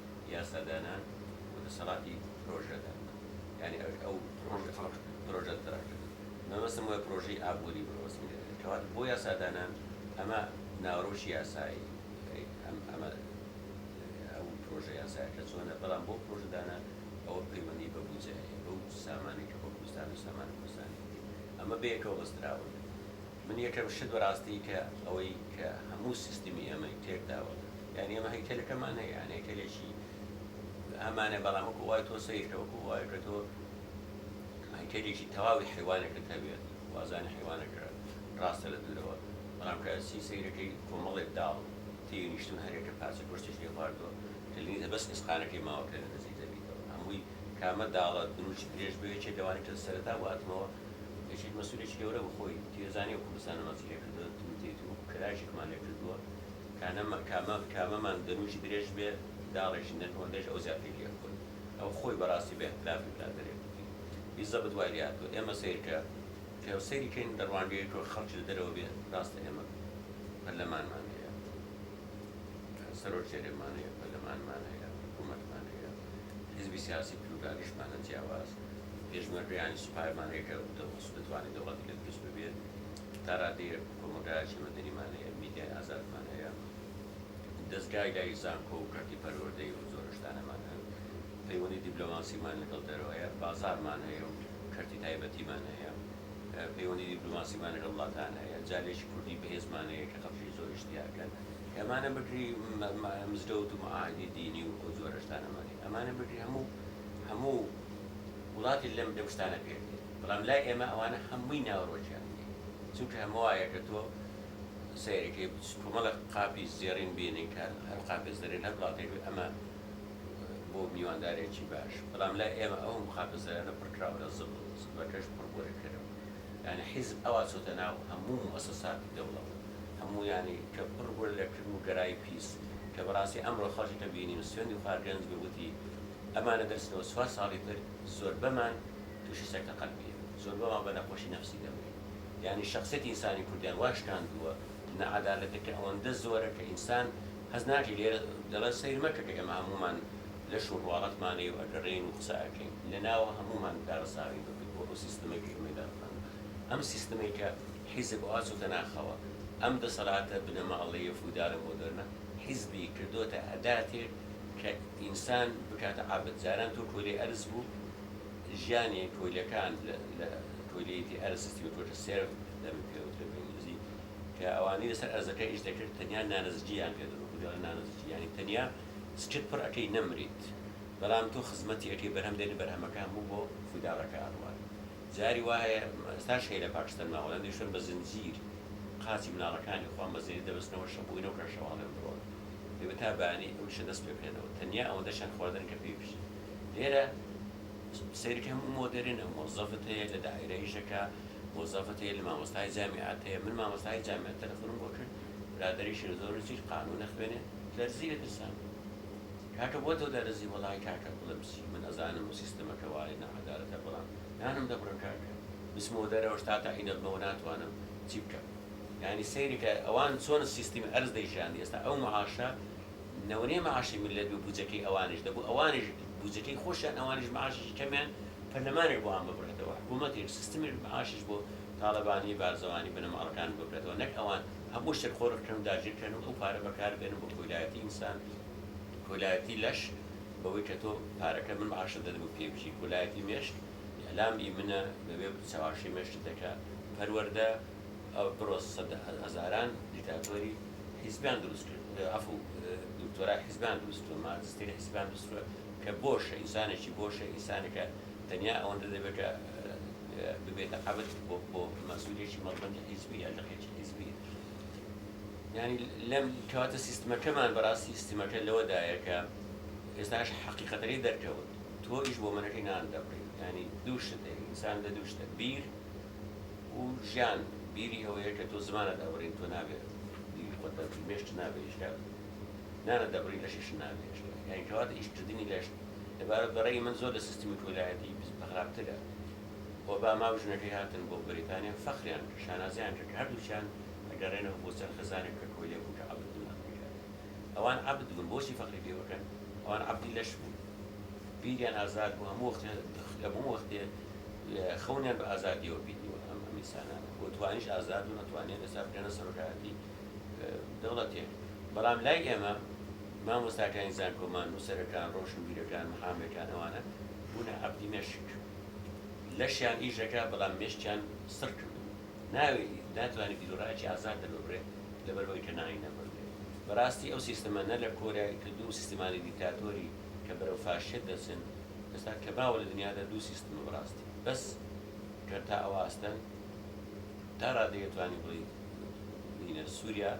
[SPEAKER 1] یاسادانان و دەسەڵاتی پرۆژەدان یانی ئەوێ ئەو پرۆژە پرۆژە تراکتەر مەبەستم وە پرۆژەی ئابووری مەبەستم لێ دەبێت کەواتە بۆ یاسادانان ئەمە ناوەرۆکی یاسایی ئەم ئەمە ئەو پرۆژە یاسایەکە چۆنە بەڵام بۆ پرۆژەدانان ئەوە پەیوەندی بە بودجە هەیە بەو سامانەی کە بۆ کوردستان و سامانی کوردستانی ئەمە بەیەکەوە بەستراون من یەکەم شت بەراستی کە ئەوەی کە هەموو سیستمی ئێمەی تێکداوە یانی ئێمە هەیکەلەکەمان هەیە یان هەیکەلێکی ئەمانە بەڵام وەکو وای تۆ سەیرکە وەکو وای کە تۆ هەیکەلێکی تەواوی حیوانەکەت هەبێ وازانی حیوانەکە ڕاستە لە دوورەوە بەڵام کە ئەچی سەیرەکەی کۆمەڵێک داڵ تێی نیشتون هەرێکە پارچە گۆشتێکی لێ خواردووە کە لە نیزە بەس ئێسقانەکەی ماوە کە لە نزیک دەبیتەوە هەمووی کامە داڵە دروشت درێژ بوێ یەکێ لەوانەی کە سەرەتا واتمەوە یەکێک مەسولێکی گەورە بوو خۆی تیەزانێ و کوردستان ە ماچی لێ کردوە تم تیت و کراژێکمان لێ کردوە کانەمە کامە کامەمان دروشت درێژ بێ داڵێکی نەرم ئەوەندەش ئەو زیاتری لێ خۆی ئەو خۆی بەراستی بە ئیحترافی برادەرێ کوردی بیزەبت وای لێ هاتوە ئێمە سەیر کە کە سەیری کەین لە ڕوانگەیەکەوە خەڵکی لە دەرەوە بێ راستە ئێمە پەرلەمانمان هەیە سەرۆک هەرێمان هەیە، پەرلەمانمان هەیە، حکوومەتمان هەیە، حیزبی سیاسی پلوورالیشمانە جیاواز، پێشمەرگەیانی سوپایمان هەیە کە دەتوانێت دەوڵەتی لێ دروست ببێت، تا ڕادەیەک کۆمەڵگایەکی مەدەنیمان هەیە، میدیای ئازادمان هەیە، دەزگای لای زانکۆ و کەرتی پەروەردەی و زۆر شتانەمان هەن. پەیوەندی دیبلۆماسیمان لەگەڵ دەرەوە هەیە، بازاڕمان هەیە و کەرتی تایبەتیمان هەیە، پەیوەندی دیبلۆماسیمان لەگەڵ وڵاتان هەیە، جالێکی کوردی بەهێزمان هەیە کە خەڵکی زۆریش دیارکەن. ئەمانە بگری مزگەوت و مەعاهیدی دینی و ئەو جۆرە شتانەمان هەیە. ئەمانە بگری هەموو هەموو وڵاتێک لەم لەم شتانە پێک دێت. بەڵام لای ئێمە ئەوانە هەمووی ناوەڕۆکیان نییە. چونکە هەمە وایە کە تۆ سەیرەکەی کۆمەڵێک قاپی زێڕین بینن کە هەر قاپێ زەرێر هەر وڵاتێک بێت ئەمە بۆ میواندارێکی باش بەڵام لای ئێمە ئەو مقابەزەرانە پڕکراوە لە زبڵ زبڵەکەش پڕ بۆرە کرەوە یانی حیزب ئەوا چۆتە ناو هەموو موئەسەساتی دەوڵەت هەموو یانی کە پڕ بۆرە لە کرم و گەرای پیس کە بەڕاستی ئەمڕۆ خەڵکی کە بینیم سوێندی خوا گەنج بێ وتی ئەمانە دەرچنە و چوار ساڵی تر زۆربەمان توشی سەکتە قەلبیە زۆربەمان بە نەخۆشی نەفسی دەمرین یانی شەخسیەتی ئینسانی کوردیان وا شکاندووە نەعەدالەتەکە ئەوەندە زۆرە کە ئینسان هەست ناکەی لێرە دەڵێن سەیر مەکە کە ئێمە هەموومان لەش و ڕواڵەتمانەی و ئەگەڕێین و قسە ئەکەین لەناو هەموومان کارەساتی دەکەین بۆ ئەو سیستمەی کە ئێمەی دامەزراندووە ئەم سیستمەی کە حیزب وا چۆتە ناخەوە ئەم دەسەڵاتە بنەماڵەیە فودالە مۆدێرنە حیزبی کردۆتە ئەداتێک کە ئینسان بکاتە عەبد جاران تۆ کۆیلەی ئەرز بوو ژیانی کۆیلەکان لە کۆیلەیەتی ئەرز سیستمی کۆیلە سێرڤ دەبێت پێوترێت بە ئینگلیزی کە ئەوانەی لەسەر ئەرزەکە ئیش دەکرد تەنیا نانەزجیان پێ دەبوو، بە گوێرە نانەزجی یانی تەنیا سکت پڕ ئەکەی نەمریت، بەڵام تۆ خزمەتی ئەکەی بەرهەم دێنی بەرهەمەکە هەموو بۆ فیداڵەکە ئەڕوات جاری وا هەیە ئێستاش هەیە لە پاکستان مامۆلایان دەیشتن بە زنجیر قاچی مناڵەکانی خۆیان بە زنجیر دەبەستنەوە شەو بۆی نەوکرا شەواڵێ و دڕۆن دەبێت تا بەیانی ئەو ئیشە دەست پێ بکەنەوە تەنیا ئەوەندەشیان خواردن کە پێی بژین لێرە سەیرکە هەموو مۆدێرنە مۆزەفت هەیە لە دائیرە ئیشەکە مۆزەفت هەیە لە مامۆستای جامیعەت هەیە من مامۆستای جامیعەت تەلەفۆنم بۆ کرد برادەری شێرزۆرە چیت قانون ئەخوێنێ دەرزی لە ترسان کاکە بۆ تۆ دەرزی وەڵای کاکە بڵێم چی من ئەزانم و سیستەمەکە وایە ناعەدالەتە بەڵام نانم دەبڕم کاکە بچمەوە دەرەوەش تا تەعین ئەبمەوە ناتوانم چی بکەم یانی سەیرکە ئەوان چۆن سیستمی ئەرز دەیژیان ئێستا ئەو معاشە نەوەنێ مەعاشی میللەت بە بوجەکەی ئەوانیش دەبوو ئەوانیش بوجەکەی خۆشیان ئەوانیش مەعاشێکی کەمیان پەرلەمانێک بۆ ئان ببڕێتەوە حکومەتێک سیستمێک مەعاشیش بۆ تاڵەبانی بارزەوانی بنەماڵەکان ببرێتەوە نەک ئەوان هەموو شتێک قۆرغ کەن و داگیر کەن و ئەو پارە بەکار بێنن بۆ کۆیلایەتی ئینسان کۆلایەتی لەش بەوەی کە تۆ پارەکە من مەعاشت دەدەمو پێی بژی کۆلایەتی مێشک ئیعلام ی منە بەبێ چەواشەی مێشکت دەکا پەروەردە ئەو پرۆسە سەد هەزاران دیکتاتۆری حیزبیان دروست کرد عەفو دکتۆرای حیزبیان دروست کردوە ماجستیری حیزبیان دروست کردوە کە بۆشە ئینسانێکی بۆشە ئینسانێکە تەنیا ئەوەندە دەبێت کە ببێتە عەبد بۆ بۆ مەسئولێکی مەڵبەندی حیزبی یا لقێکی حیزبی یعنی لەم کەواتە سیستمەکەمان بەڕاستی سیستمەکە لەوەدایە کە ئێستاش حەقیقەتەکەی دەرکەوت تۆ ئیش بۆ منەکەی نان دەبڕی ینی دوو شت ئینسان لە دوو شتە بیر و ژیان بیری ئەوەیە کە تۆ زمانت ئەبڕین تۆ نابێ بیری خۆت دەبڕی مێشت نابێ هێشتا نانت دەبڕی لەشیشت نابێ هێشتا یانی کەواتە ئیش کردنی لەش لەبارە بە ڕەئی من زۆر لە سیستمی کۆیلایەتی بە خراپترە ئۆباما و ژنەکەی هاتن بۆ بەریتانیا فەخریان کرد شانازیان کرد کە هەردووکیان ئەگەڕێنەوە بۆ سەر خێزانێک کە کۆیلەبوو کە عەبد بن ئەمریکا ئەوان عەبد بوون بۆچی فەخری پێ بکەن ئەوان عەبدی لەش بوون بیریان ئازاد بوو هەموو وەختێ هەموو وەختێ خەونیان بە ئازادیەوە بینیوە ئەم ئەمیسانانە بۆ توانیش ئازاد و نەتوانێت ئێستا بکەنە سەرۆکایەتی دەوڵەتێک بەڵام لای ئێمە مامۆستاکانی زانکۆمان نووسەرەکان ڕۆشنبیرەکان محامێکان ئەوانە بوونە عەبدی مێشک لەشیان ئیشەکە بەڵام مێشکیان سڕ کردو ناوێ ناتوانێت بیرۆڕایەکی ئازاد دەرببرێت لەبەر ئەوەی کە ناوی نەبردرێت. بەراستی ئەو سیستەمە نە لە کۆریای کە دوو سیستمانی دیکتاتۆری کە بەرەو فاشیەت دەچن ئێستا کە باوە لە دنیادا دوو سیستمە بەراستی بەس کە تا ئەوە ئاستەن تا رادەی ئەتوانی بڵی بینە سوریا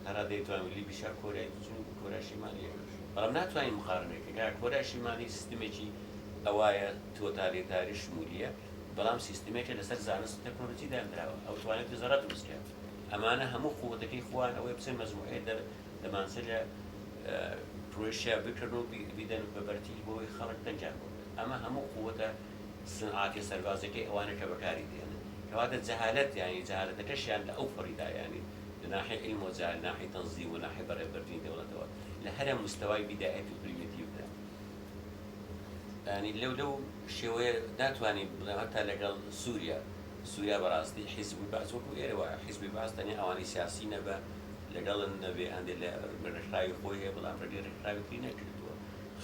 [SPEAKER 1] تا رادەی ئەتوان بلی بیشا کۆریای دوو چونی کۆریای شیمالی یەکەش بەڵام ناتوانی مقارنەی کە کە کۆریای شیمالی سیستمێکی ئەوایە تۆتالیتاری شمولیە بەڵام سیستمێکە لەسەر زانست و تەکنۆلۆجی دانراوە ئەو توانێت زەڕە دروست کات. ئەمانە هەموو قوتەکەی خوان ئەوەی بچن مەجموعەی دەر دەمانچە لە کروشیا بکرن و بیدەن بە بەرتیل بۆی خەڵک دەنگیان بۆ بدەن ئەمە هەموو قوتە سونعاتیە سەربازەکەی ئەوانە کە بەکاری دێنن کەواتە جەهالەت یانی جەهالەتەکەشیان لە ئەو پەڕیدا یانی لە ناحی علم و جەهل ناحی تنظیم و ناحی بەڕێ بردنی دەوڵەتەوە لە هەرە مستەوای بیدایەت و پریمیتیڤدا یانی لەو لەو شێوەیە ناتوانین بڵێ هەتا لەگەڵ سوریا سوریا بەراستی حیزب و بەعس وەکو ئێرە وایە حیزبی بەعس تەنیا ئەوانەی سیاسی نەبە لەگەڵن نەبێ هەندێ لە ڕێکخراوی خۆی هەیە بەڵام ڕێگەی ڕێکخراوی تری نەگرتووە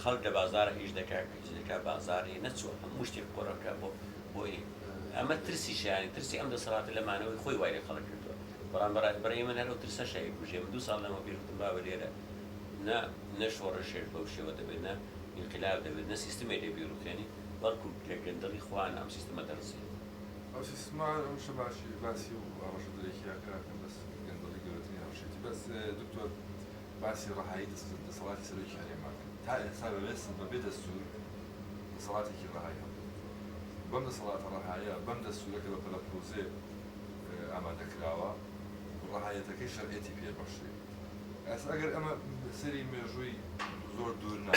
[SPEAKER 1] خەڵک لە بازارە ئیش دەکا ئیش دەکا بازار هەیە نەچووە هەموو شتێک قۆرە بکا بۆ بۆ ئێ ئەمە ترسی شایانی ترسی ئەم دەسەڵاتە لە مانەوەی خۆی وای لە خەڵک کردووە بەڵام بەڕای بەڕای من هەر ئەو ترسە شای کوژێ من دوو ساڵ لەمەو پێش وتم بابە لێرە نە نە شۆڕشێش بەو شێوە دەبێت نە ئینقلاب دەبێت نە سیستمێ لێ بیڕوخێنی بەڵکو لە گەندەڵی خۆیان ئەم سیستمە دەڕزێت. ئەو سیستمە
[SPEAKER 2] ئەمشە باشی باسی و ئەمەشە درکی ئەکا کە بەس گەندەڵی گەورەترین هەڕەشەیەتی بەس دکتۆر باسی ڕەهایی دەسەڵاتی سەرۆکی هەرێم ئەکەن تا ئێستا بە بێ سن بە بێ دەستور دەسەڵاتێکی ڕەهای هەبوو بەم دەسەڵاتە ڕەهایە بەم دەستورە کە بە پەلە پرۆزێ ئامادە کراوە ڕەهایەتەکەی شەرعێتی پێ بەخشرێ. ئەس ئەگەر ئەمە سەیری مێژووی زۆر دوور نا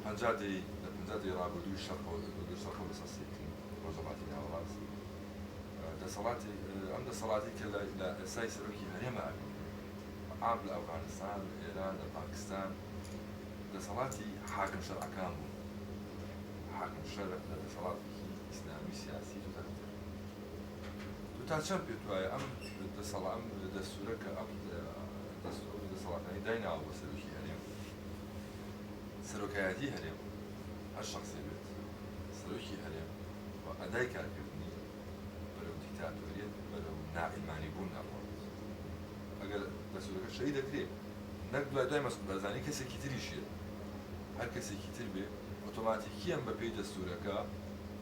[SPEAKER 2] پەنجا دەی لە پەنجا دەی ڕابردووی شەڕەوە دەدۆ سەرخۆ بەسەر سیتی ڕۆژەڵاتی ناوەڕاست دەسەڵاتی ئەم دەسەڵاتی کە لە ئێسای سەرۆکی هەرێمە ئەبی عام لە ئەفغانستان لە ئێران لە پاکستان دەسەڵاتی حاکم شەرعەکان بوون حاکم شەرع لە دەسەڵاتێکی ئیسلامی سیاسی تۆتالیتەر تۆ تا چەند پێت وایە ئەم دەسەڵا ئەم دەستورە کە ئەم دەست ئەو دەسەڵاتانی دایناوە بۆ سەرۆکی هەرێم سەرۆکایەتی هەرێم هەر شخصێ بێت سەرۆکی هەرێم و ئەدای کارکردنی بەرەو دیکتاتۆریەت بەرەو ناعلمانی بوون ئەڕوات ئەگەر دەستورەکە شەی دەکرێت نەک دوای دوای مەسعود بەرزانی کەسێکی تریشێت هەر کەسێکی تر بێ ئۆتۆماتیکیان بەپێی دەستورەکە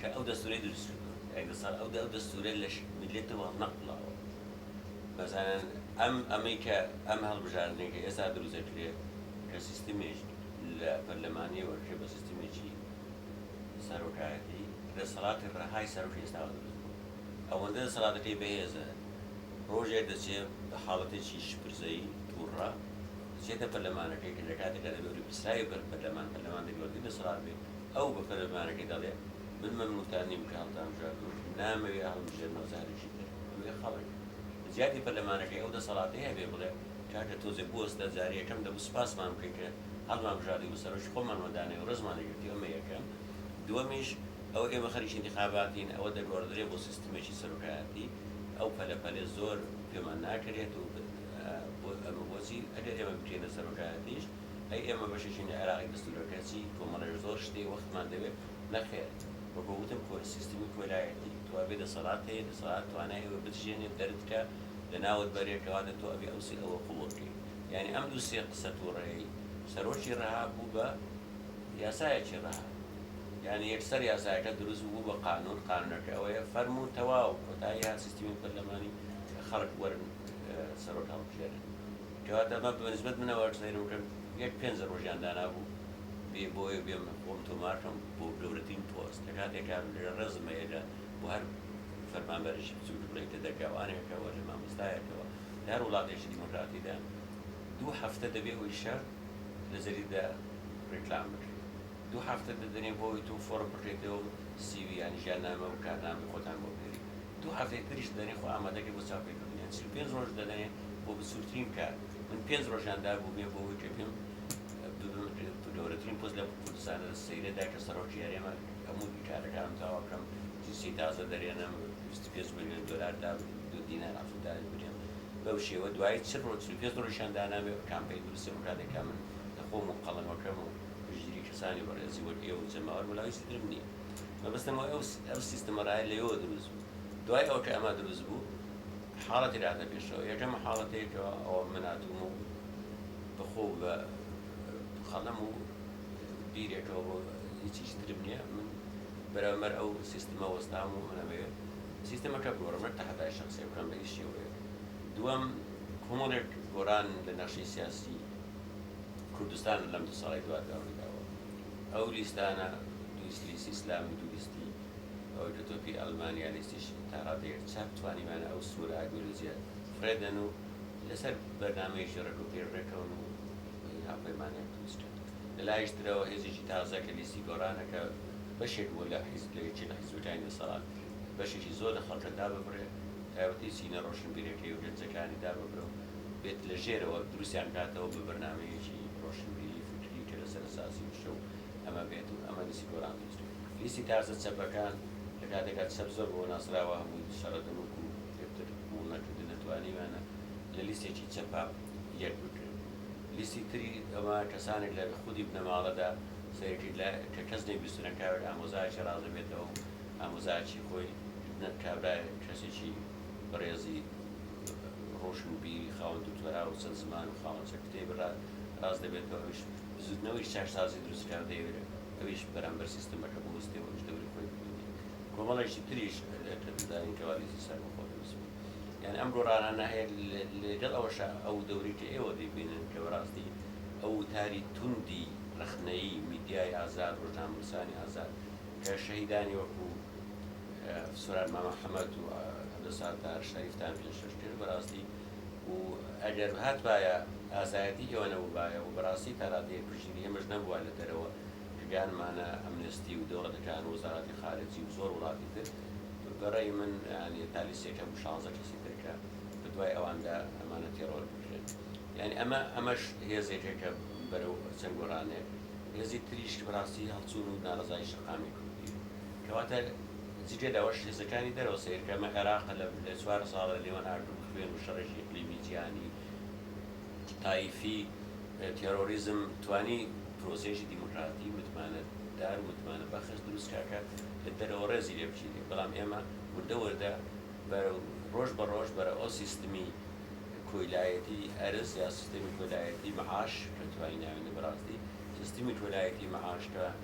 [SPEAKER 1] کە ئەو دەستورەی دروست کردوە کاک دەستان ئەو ئەو دەستورە لە میلەتەوە هەڵنەقولاوە بەزانن ئەم ئەمەی کە ئەم هەڵبژاردنەی کە ئێستا دروست دەکرێ کە سیستمێک لە پەرلەمانی وەرکرێ بە سیستمێکی سەرۆکایەتی کە دەسەڵاتی ڕەهای سەرۆکی ئێستاوە دروست بوە ئەوەندە دەسەڵاتەکەی بەهێزە ڕۆژێک دەچێ بە حاڵەتێکی شپرزەیی توڕە دەچێتە پەرلەمانەکەی کە لە کاتێکا دەبێ بەرپرسراوی بەر پەرلەمان پەرلەمان دەبێ وەردی دەسەڵات بێ ئەو بە پەلەمارەکەی دەڵێ، من مەمنوونتان نیم کە هەڵتانبژاردووم، نامەوێ هەڵمبژێرنەوە جارێکی تر. ئەوێ خەڵک، لە جیاتی پەرلەمانەکەی ئەو دەسەڵاتەی هەبێ بڵێ، کاکە تۆزێ بوەستە، جارێ یەکەم دەبوو سوپاسمان بکەی کە هەڵمانبژاردی و سەرۆکی خۆمان وەدانەوێ و ڕێزمان لێ گرتی، ئەمە یەکەم. دووەمیش، ئەوە ئێمە خەریکی ئینتیخاباتین، ئەوە دەگۆڕدرێ بۆ سیستمێکی سەرۆکایەتی، ئەو پەلە پەلەی زۆر پێمان ناکەرێت و ئەمە بۆچی ئەگەر ئێمە بکەینە سەرۆکایەتیش، ئەی ئێمە بەشێکین لە عێراقی دەستورە گەرچی کۆمەڵێک زۆر شتی وەختمان دەوێت نەخێر وەکو وتم کۆ سیستمی کۆیلایەتی تۆ ئەبێ دەسەڵات هەیە دەسەڵات توانای ئەوە بتژێنێ دەرت کا لە ناوت بەرێ کەواتە تۆ ئەبێ ئەو سێ ئەوە قوڵ بکەی یانی ئەم دوو سێ قسە توڕەیەی سەرۆکی ڕەها بوو بە یاسایەکی ڕەها یانی یەکسەر یاسایەکە دروست بوو بە قانون قانونەکە ئەوەیە فەرموو تەواو کۆتایی هات سیستمی پەرلەمانی خەڵک وەرن سەرۆک هەڵبژێرن کەواتە با بە نسبەت منەوە سەیرم کرد یەک پێنج ڕۆژیان دانابوو بێ بۆ ئەوێ بێم خۆم تۆمار کەم بۆ گەورەترین پۆست کە کاتێک کە لە ڕێزم هەیە لە بۆ هەر فەرمانبەرێکی بچووک بڵێی کە دەرگاوانێکەوە لە مامۆستایەکەوە لە هەر وڵاتێکی دیموکراتیدا دوو هەفتە دەبێ ئەوی شەر لە جەریدەدا ڕیکلام بکرێت دوو هەفتە دەدەنێ بۆ ئەوی تۆ فۆڕم بکەیتەوە و سی وی یان ژیاننامە و کارنامەی خۆتان بۆ بنێری دوو هەفتەی تریش دەدەنێ خۆ ئامادەکەی بۆ چاپکردنی یان چل و پێنج ڕۆژ دەدەنێ بۆ بچوکترین کار من پێنج ڕۆژیان دابوو بێ بۆ ئەوەی کە پێم ببم گەورەترین پۆست لەم کوردستانە لە سەیرەدا کە سەرۆکی هەرێمە هەموو کارەکانم تەواو بکەم جنسی تازە دەرێنم 25 ملیۆن دلار دا دو دینار عفو داوێت بدێم بەو شێوە دوای چ ڕۆژ 25 ڕۆژیان دانامێ کامپەی دروستم بکات لە کامن لە خۆم و قەڵەمەکەم و پشتگیری کەسانی بەڕێزی وەک ئێوە و جەماوەر وەلا هیچی ترم نییە مەبەستم ئەوەیە ئەو سیستمە ڕایە لەوێوە دروست بوو دوای ئەوە کە ئەمە دروست بوو حاڵەتی لە هاتە پێشەوە یەکەم حاڵەتەی کە ئەوە من هاتووم و بە خۆو بە قەڵەم و بیرێکەوە بۆ هیچیش ترم نییە من بەرامبەر ئەو سیستمە وەستام و من ئەمەوێ سیستمەکە بگۆڕم نەک تەحەدای شەخسی بکەم بە هیچ شێوەیەک دووەم کۆمەڵێک گۆران لە نەخشەی سیاسی کوردستان لەم دوو ساڵی دواتدا ڕوویداوە ئەو لیستانە دوو لیستی ئیسلامی و دوو لیستی ئەوەی کە تۆ پێی ئەلمانیالیستیش تا ڕادەیەک چاک توانیویانە ئەو سنوورە ئایدیۆلۆژییە فڕێدەن و لەسەر بەرنامەیەکی ڕێک و پێی ڕێکەون و هاوپەیمانیان دروست کرد. لە لایەکی ترەوە هێزێکی تازە کە لیستی گۆڕانە کە بەشێک بوو لە حیز لە یەکێ لە حیزبەکانی دەسەڵات بەشێکی زۆر لە خەڵکە داببڕێ تایبەتی چینە ڕۆشنبیرەکەی و گەنجەکانی داببرێ و بێت لە ژێرەوە دروستیان کاتەوە بە بەرنامەیەکی ڕۆشنبیری فیکری کە لەسەر ئەساسی وشە و ئەمە بێت و ئەمە لیستی گۆڕان لیستی تازە چەپەکان لە کاتێکا چەپ زۆر بەوە ناسراوە هەمووی شەڕە دەنووک و پێپتر قبوڵ نەکردن نەتوانیویانە لە لیستێکی چەپا یەک بگرن لیستی تری ئەمە کەسانێک لە خودی بنەماڵەدا سەیرکەیت لە کە کەس نەیبیستوو نە کاوێک ئامۆزایەکی ڕاست دەبێتەوە و ئامۆزایەکی خۆی نە کابرایەک کەسێکی بەڕێزی ڕۆشن و بیری خاوەن دوکتۆرا و چەند زمان و خاوەن چەند کتێبی ڕاست دەبێتەوە ئەویش بزووتنەوەیەکی چاکسازی دروست بکا و دەیەوێت ئەویش بەرامبەر سیستەمەکە بوەستێ و دەوری خۆی ببینێ. کۆمەڵێکی تریش کە دەزانین کە والیزی سەربەخۆ دەنووسن. یان ئەم گۆڕانانە هەیە لەگەڵ ئەوەشا ئەو دەورەی کە ئێوە دەیبینن کە بەڕاستی ئەو وتاری توندی ڕەخنەیی میدیای ئازاد، ڕۆژنامەنووسانی ئازاد کە شەهیدانی وەکو سۆران مامە حەمەد و عەبدولستار تاهەر شەریفتان پێشکەش کرد بەڕاستی، و ئەگەر هاتبایە ئازایەتی ئێوە نەبووبایە و بەڕاستی تا ڕادەیەک پشتگیری ئێمەش نەبووە لە دەرەوە کە گانمانە ئەمنستی و دەوڵەتەکان و وەزاراتی خارجی و زۆر وڵاتی تر بە ڕێی من یانی تا لیست یەکەم و شانزە کەسی تر کە بە دوای ئەواندا ئەمانە تێڕۆر بکرێن یانی ئەمە ئەمەش هێزێکە کە بەرەو چەند گۆڕانێک هێزی تریش کە بەڕاستی هەڵچوون و ناڕەزایی شەقامی کوردی کەواتە جگە لەوەش هێزەکانی دەرەوە سەیرکەمە عێراق لە لە چوار ساڵە لە نێوان ئاگر و خوێن و شەڕێکی ئیقلیمی جیهانی تایفی تێرۆریزم توانی پرۆسەیەکی دیموکراتی متمانە دار و متمانە بەخش دروست کا کە لە دەرەوە ڕێزی لێ بگیرێ بەڵام ئێمە وردە وردە بەرەو ڕۆژ بە ڕۆژ بەرە ئەو سیستمی کۆیلایەتی ئەرز یا سیستمی کۆلایەتی معاش کە توانی ناوێنێ بەڕاستی سیستمی کۆلایەتی معاش کە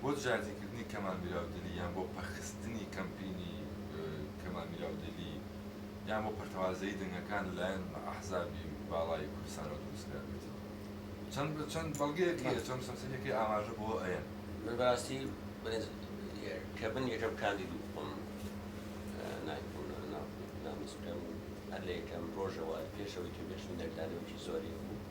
[SPEAKER 2] بۆ دژایەتیکردنی کەمال میراودلی یان بۆ پەخستنی کەمپینی کەمال میراودلی یان بۆ پەرتەوازەیی دەنگەکان لەلایەن ئەحزابی باڵای کوردستانەوە دروستکرابێت چەند بە چەند بەڵگەیەک هەیە چەند سەمسەریەکەی ئاماژە بۆ ئەیەن من بەراستی
[SPEAKER 1] بەێز کە من یەکەم کاندید و خۆم ناکوونەوە ناوکوون نامزکەم هەر لە یەکەم ڕۆژەوە پێشەوەی توێشم دەنگدانەوەکی زۆری بوو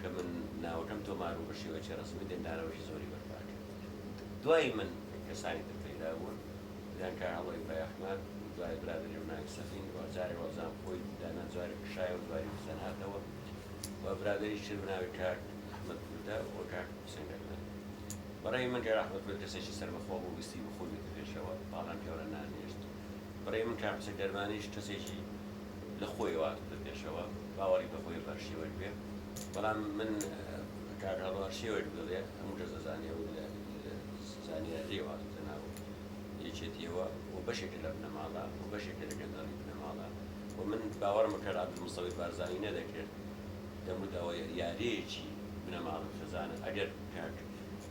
[SPEAKER 1] کە من ناوەکەم تۆمار بوو بە شێوەیەکی ڕەسمی دەنگدانەوەی زۆری بەرپا کرد دوای من کەسانی تر پەیدا بوون دەیان کاک عەڵەوی بایەخمان دوای برادەری ڕوناوی سەفین وە جارێ وەڵزان خۆی دانا جارێ کشایەوە دواری بزەناتەوە وە برادەری تر بەناوی کاک ئەحمەد کوردە وە کاک حوسێن گەردان بەڕای من کاک ئەحمەد کورد کەسێکی سەربەخۆ بوو ویستی بخوبێتە پێشەوە پاڵیان پێوە نانێشت بەڕای من کاک حسێن کەرمانیش کەسێکی لە خۆیەوە هاتۆتە پێشەوە باوەڕی بە خۆی بە هەرشێوەک بێ بەڵام من کاک هەڵۆ هەرشێوەک بڵێ هەموو کەس دەزانێ و لە زانیاریەوە هاتۆتە ناو یەکێتیەوە و بەشێکە لە بنەماڵە و بەشێکە لە گەندەڵی بنەماڵە و من باوەڕمە کاک عەبدولمستەفی بارزانی نەدەکرد دەموداوە یاریەکی بنەماڵە خزانە ئەگەر کاک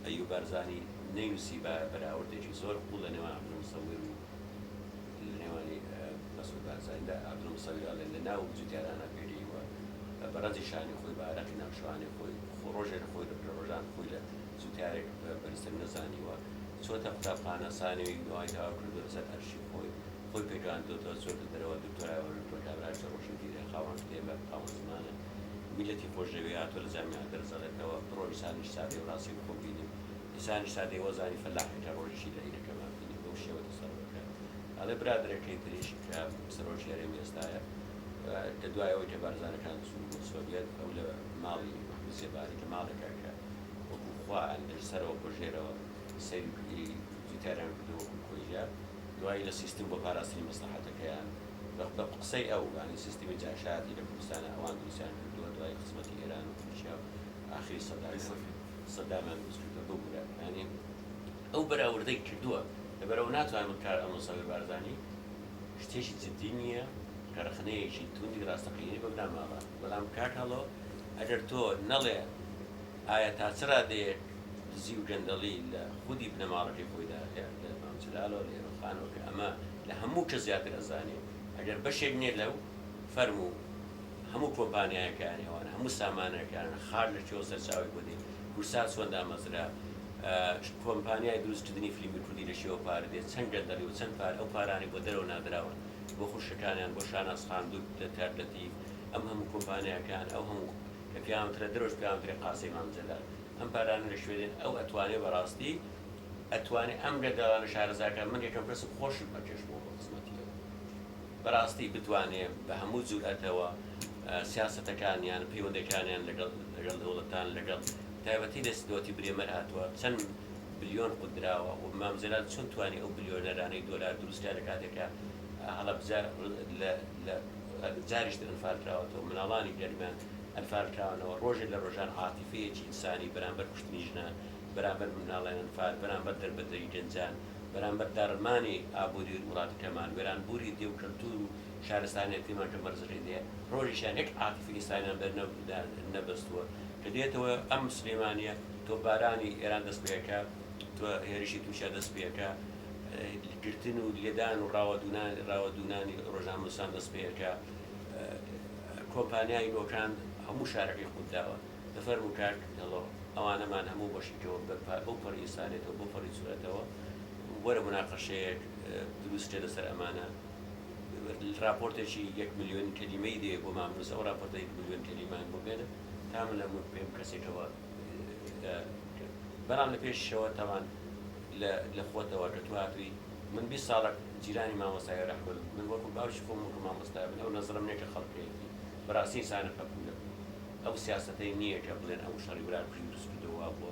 [SPEAKER 1] ئەیوب بارزانی نەینوسیبایە بەراوردێکی زۆر قوڵ لە نێوان عەبدول موسەویر و لە نێوانی مەسعود بارزانیدا، عەبدول موسەویر ئەڵێ لە ناو و جوتیارانە پێگەیوە بە رەنجی شانی خۆی بە ئارەقی ناو شوانەی خۆی خۆ رۆژێ لە خۆی لە پلە رۆژان خۆی لە جوتیارێک بەرزتر نەزانیوە چۆتە قوتابخانە سانێوی دوای تەواو کردوە لە سەر ئەرشی خۆی خۆی پێگەیاندۆتەوە چۆتە دەرەوە دکتۆرایە وە دکتۆر کابرایش لە رۆشنبیرە خاوەن کتێبە خاوەن زمانە میلەتی خۆشدەوێ هاتوە لە جامیعە دەرزەڕێتەوە بڕۆ ئیسانیش سادەی و ڕاستی بخۆ بینی ئیسانیش سادەی وەزانی فەلاحی هەر ڕۆژیشی لە عیدەکەمان بینی بەو شێوە تەسەروفکە ئەڵێ برادەرەکەی تریش کە سەرۆکی هەرێمی ئێستایە لە دوای ئەوەی کە بارزانەکان چوون بۆ سۆڤیەت ئەو لە ماڵی وەکو زێباری لە ماڵێکا کە وەکو خوا ئەن لە سەرەوە بۆ ژێرەوە سەیری جوتیاریان کردوە وەکو کۆیلە دوای لە سیستم بۆ پاراستنی مەسڵەحەتەکەیان بە قسەی ئەو یانی سیستمی جاشایەتی لە کوردستانا ئەوان دروستیان کردووە دوای خزمەتی ئێران و تورکیا و ئاخری سەدامیان سەدامیان دروست کردووە ببورە یانی ئەو بەراوردەی کردووە لەبەرئەوە ناتوانین بکار ئەمڕۆ سەروەر بارزانی شتێکی جدی نییە کە ڕەخنەیەکی توندی ڕاستەقینەی بە بنەماڵە بەڵام کاک هەڵۆ ئەگەر تۆ نەڵێ ئایا تا چ ڕادەیەک دزی و گەندەڵی لە خودی بنەماڵەکەی خۆیدا هەیە لە مام جەلالەوە لە ئێرۆخانەوە کە ئەمە لە هەموو کەس زیاتر ئەزانێ ئەگەر بەشێک نیە لەو فەرم و هەموو کۆمپانیایەکان ئەوانە هەموو سامانەکانە خاک لە کوێوە سەرچاوەی بۆ دێ کورسا چۆن دامەزرا کۆمپانیای دروست کردنی فلیمی کوردی لە کوێوە پارە دێ چەند گەندەڵی و چەند پار ئەو پارانەی بۆ دەرەوە نادراون بۆ خوشکەکانیان بۆ شاناز خان دوک لە تار لەتیف ئەم هەموو کۆمپانیاکان ئەو هەموو کە پێیان وترا دەرەوەش پێیان وترێ قاسەی مام جەلال ئەم پارانە لە کوێ دێن ئەو ئەتوانێ بەڕاستی ئەتوانێ ئەم گەندەڵانە شارەزاکە من یەکەم کەسم خۆشم ئەکێشمەوە بۆ خزمەتی ئەو بەراستی بتوانێ بە هەموو جورئەتەوە سیاسەتەکانیان پەیوەندەکانیان لەگەڵ لەگەڵ دەوڵەتان لەگەڵ تایبەتی لە دەوەتی برێمەر هاتوە چەن بلیۆن قوت دراوە و مام جەلال چۆن توانی ئەو بلیۆنەرانەی دۆلار دروستکە لە کاتێکا هەڵەبجە لە لە جاریش تر ئەنفال کراوەتەوە مناڵانی گەرمیان ئەنفال کراونەوە رۆژێ لە رۆژان عاتیفەیەکی ئینسانی بەرامبەر کوشتنی ژنان بەرامبەر منداڵە ئەنفال، بەرامبەر دەربەدەری گەنجان، بەرامبەر داڕمانی ئابوری ووڵاتەکەمان، وێرانبوری دێ و کەلتور و شارستانیەتیمان کە مەرزەکەی دێ ڕۆژیشان یەک عاتفی ئیسانیان بەر نەبەستوە کە دێتەوە ئەم سلێمانیە تۆپبارانی ئێران دەست پێەکا توە هێرشی تورکیا دەست پێەکا گرتن و لێدان و ڕاوەدونانی ڕۆژنامەنوسان دەست پێەکا کۆمپانیای نۆکان هەموو شارەکەی قوتداوە. بفەرموو کاک هێڵۆ ئەوانەمان هەموو بەشیتەوە بەپا بەو پەڕی ئیسانێتەوە بەو پەڕی جورئەتەوە وەرە موناقەشەیەک دروست کە لەسەر ئەمانە ڕاپۆرتێکی یەک ملیۆن کەلیمەی دێ بۆمان بنووسە ئەو ڕاپۆرتە یەک ملیۆن کەلیمان بۆ بێنە تا من لە مک پێم کەسێکەوە لە بەڵام لە پێشیشەوە تاوان لە لە خۆتەوە کە تو هاتووی من بیست ساڵە جیرانی مامۆستا ئێرە حمەد بووم من وەکو باوکی خۆم وەکو مامۆستا بن ئەو نەزرەم نیە کە خەڵک هەیەتی بەڕاستی ئینسانە پەپوولە ئەو سیاسەتەی نییە کە بڵێن ئەو شەڕی برا کوژی دروست کردووە وا بووە.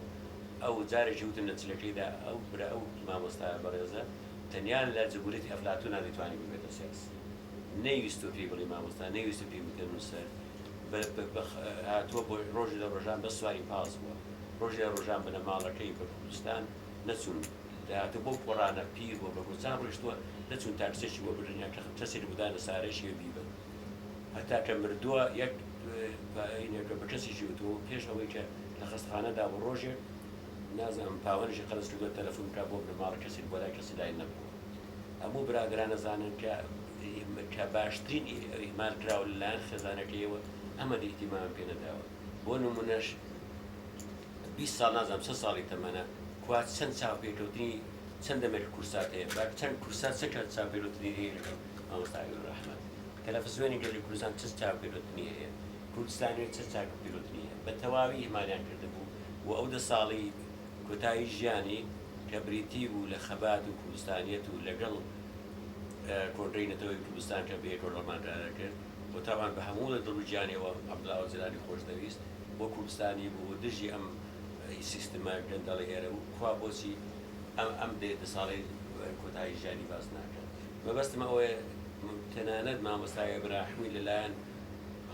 [SPEAKER 1] ئەو جارێکی وتم لە چلەکەیدا ئەو برا ئەو مامۆستایە بەڕێزە تەنیا لە جمهوریەتی ئەفلاتونا دەیتوانی ببێتە سیاسی. نەیویستووە پێی بڵێی مامۆستا نەیویستووە پێی بڵێی نووسەر. بە بە هاتووە بۆ ڕۆژێ لە ڕۆژان بەس سواری پاس بووە. ڕۆژێ لە ڕۆژان بنەماڵەکەی بە کوردستان نەچوون. دەهاتووە بەو پۆڕانە پیر بووە بە گۆچان ڕۆیشتووە نەچوون تاکسێکی بۆ بگرن یان کەسێک بۆ دانەسارێکی هەبی بن. هەتا کە مردووە یەک پاینێکە بە کەسیکی وتووە پێش ئەوەی کە لە خەستخانە دا بوو ڕۆژێک نازانم پاوەنێکی قەرز کردووە تەلەفون بکا بۆ بنەماڵە کەسیک بۆ لای کەسی لای نەبووە هەموو برادەران ئەزانن کە کە باشترین ئیهمال کراوە لە لایەن خێزانەکەیەوە ئەمەدی ئیتیمامی پێ نەداوە بۆ نموونەش بیست ساڵ نازانم چەند ساڵی تەمەنە کوا چەند چاوپێکەوتنی چەند دەمێک کورسات هەیە با چەند کورسات چەند کات چاوپێکەوتنی هەیە لەگەڵ مامۆستا ئەمین ڕەحمەت تەلەفزیۆنی گەلی کوردستان چ چاک و پیرۆتنی هەیە؟ کوردستان نوێ چ چاک و پیرۆتنی هەیە؟ بە تەواوی ئیهمالیان کردبوو و ئەو دە ساڵی کۆتایی ژیانی کە بریتی بوو لە خەبات و کوردستانیەت و لەگەڵ کۆنگرەی نەتەوەیی کوردستان کە بەیەکەوە ڕەمان کارە کرد و تابان بە هەموو لە دڵ و گیانیەوە عەبدوڵا ئۆجەلانی خۆش دەویست و کوردستانی بوو و دژی ئەم سیستمە گەندەڵە ئێرە بوو کوا بۆچی ئەم ئەم دە ساڵەی کۆتایی ژیانی باس ناکەن؟ مەبەستم ئەوەیە تەنانەت مامۆستا ئیبراحمی لەلایەن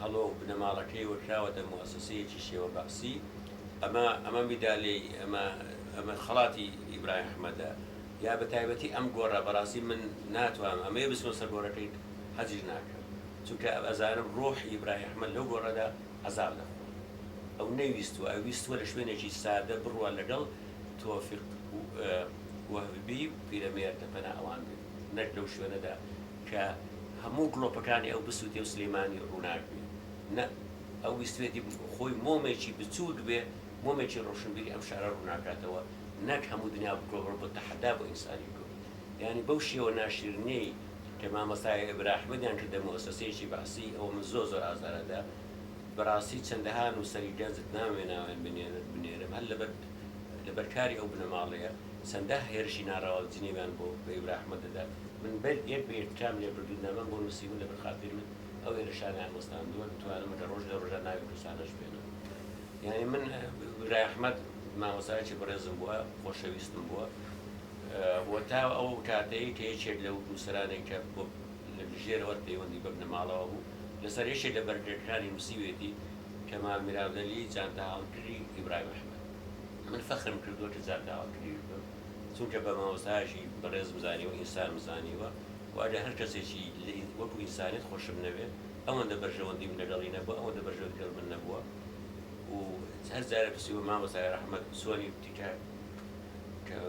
[SPEAKER 1] هەڵۆ و بنەماڵەکەیەوە کراوەتە موئەسەسەیەکی شێوە بەعسی، ئەمە ئەمە میدالیەی ئەمە ئەمە خەڵاتی ئیبراهیم ئەحمەدە یا بە تایبەتی ئەم گۆڕە بەڕاستی من ناتوانم ئەمەیە بچمە سەر گۆڕەکەی حەجیش ناکەم چونکە ئەزانم ڕۆحی ئیبراهیم ئەحمەد لەو گۆڕەدا عەزاب دەخوا ئەو نەیویستووە ئەویستووە لە شوێنێکی سادە بڕوا لەگەڵ تۆفیق وەهبی پیرەمێردە پەنا ئەوان بێت نەک لەو شوێنەدا کە هەموو گڵۆپەکانی ئەو بسووتێ و سلیمانی ڕووناک بێ نە ئەو ویستوێتی خۆی مۆمێکی بچووک بێ مۆمێکی ڕۆشنبیری ئەم شارە ڕووناکاتەوە نەک هەموو دنیا بکۆڵ بۆ تەحەدا بۆ ئینسانی کورد یانی بەو شێوە ناشیرنەی کە مامۆستا ئێبرا ئەحمەدیان کردە موئەسەسەیەکی بەعسی ئەوە من زۆر زۆر ئازارەدا بەڕاستی چەندەها نووسەری گەنجت ناوێ ناوێن بنێرم هەر لەبەر لەبەر کاری ئەو بنەماڵەیە چەندە هێرشی ناڕەوا و جنێویان بۆ بە هیورا ئەحمەد دەدات. من بەر یەک بە یەک تکام لێ بردوون، نامەم بۆ نووسیون، لەبەر خاتری من ئەو هێرشانەیان وەستاندووە، دەتوانم لە ڕۆژ لە ڕۆژان ناوی کوردستانەش بێنم. یانی من هیورا ئەحمەد مامۆستایەکی بەڕێزم بووە، خۆشەویستم بووە و تا ئەو کاتەی کە یەکێک لەو نووسەرانەی کە بۆ لە ژێرەوەت پەیوەندی بە بنەماڵەوە بوو، لەسەر یەکێک لە بەرگەکانی نووسیویەتی، کەمال میراندەلی جانتاهاوکری ئیبراهیم ئەحمەد. من فەخرم کردووە کە زاکاوەکریش بم، چونکە بە مامۆستایەکی بەڕێزم زانیوە، ئینسانم زانیوە و ئەگەر هەر کەسێکی لە وەکو ئینسانیت خۆشم نەوێ، ئەوەندە بەرژەوەندیم لەگەڵی نەبووە، ئەوەندە بەرژەوەندی لەگەڵ من نەبووە و هەر جارێ پرسیومە مامۆستای ڕەحمەت چۆنی و تکا کە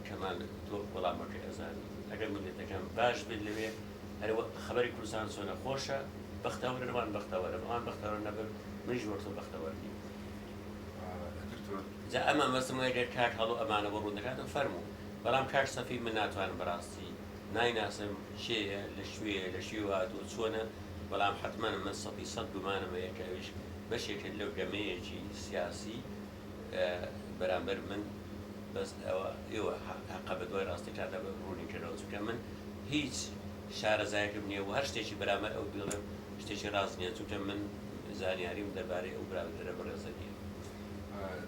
[SPEAKER 1] کەمال تۆ وەڵامەکەی ئەزانی، ئەگەر مللەتەکەم باش بێت لەوێ هەر وەک خەبەری کوردستان چۆنە خۆشە، بەختەوەرن ئەوان بەختەوەرم، ئەوان بەختەوەر نەبن منیش وەک تۆ بەختەوەر نیم. جا ئەم مەبەستم وەیە گەر کاک هەڵۆ ئەمانە بۆ ڕوون دەکاتەوە فەرموو بەڵام کاک سەفی من ناتوانم بەڕاستی نایناسم کێیە لە کوێیە لە کوێوە هاتووە چۆنە بەڵام حەتمەن من سەدی سەد گومانم هەیە کە ئەویش بەشێک کرد لەو گەمەیەکی سیاسی بەرامبەر من بەس ئەوە ئێوە هەقە بە دوای ڕاستەکاندا بە ڕوونی کەنەوە چونکە من هیچ شارەزایەکم نییە و هەر شتێکی بەرامەر ئەو بیڵێم شتێکی ڕاست نییە چونکە من زانیاریم دەربارەی ئەو براندەرە بەڕێزە نییە.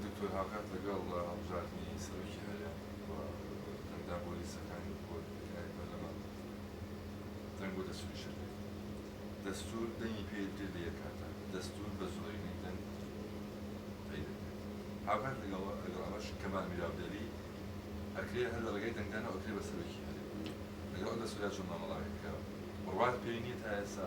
[SPEAKER 1] دکتۆر
[SPEAKER 2] هاوکات لەگەڵ هەڵبژاردنی سەرۆکی هەرێم و دەنگدان بۆ لیستەکانی بۆ تکایەی پەرلەمان دەنگ بۆ دەستوری شەرعی دەستور دەنگی پێ درێت لە یەک کاتا دەستور بە زۆرینەی دەنگ تەی دەکرێت هاوکات لەگەڵ لەگەڵ ئەمەش کەمال میراو دەلی ئەکرێ هەر لە ڕێگای دەنگدانەوە ئەکرێ بە سەرۆکی هەرێم لەگەڵ ئەو دەستورە چۆن مامەڵە ئەکرێ کە بڕوات پێی نییە تا ئێستا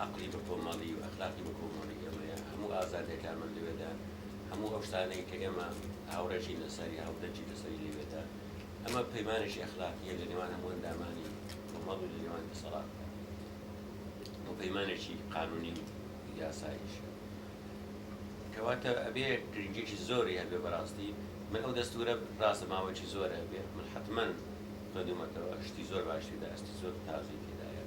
[SPEAKER 1] ئەقڵی بەکۆمەڵی و ئەخلاقی بەکۆمەڵی ئێمەیە، هەموو ئازادیەکانمان لەوێدا، هەموو ئەو شتانەی کە ئێمە هاوڕێژین لەسەری، هاودەنگین لەسەری لەوێدا، ئەمە پەیمانێکی ئەخلاقیە لە نێوان هەموو ئەندامانی کۆمەڵ و لە نێوان دەسەڵاتدا و پەیمانێکی قانونی و یاساییشە. کەواتە ئەبێ گرنگیەکی زۆری هەبێ بەڕاستی من ئەو دەستورە ڕاستە ماوەیەکی زۆرە بێ من حەتمەن خوێندومەتەوە شتی زۆر باشی تێدایە شتی زۆر تازەی تێدایە.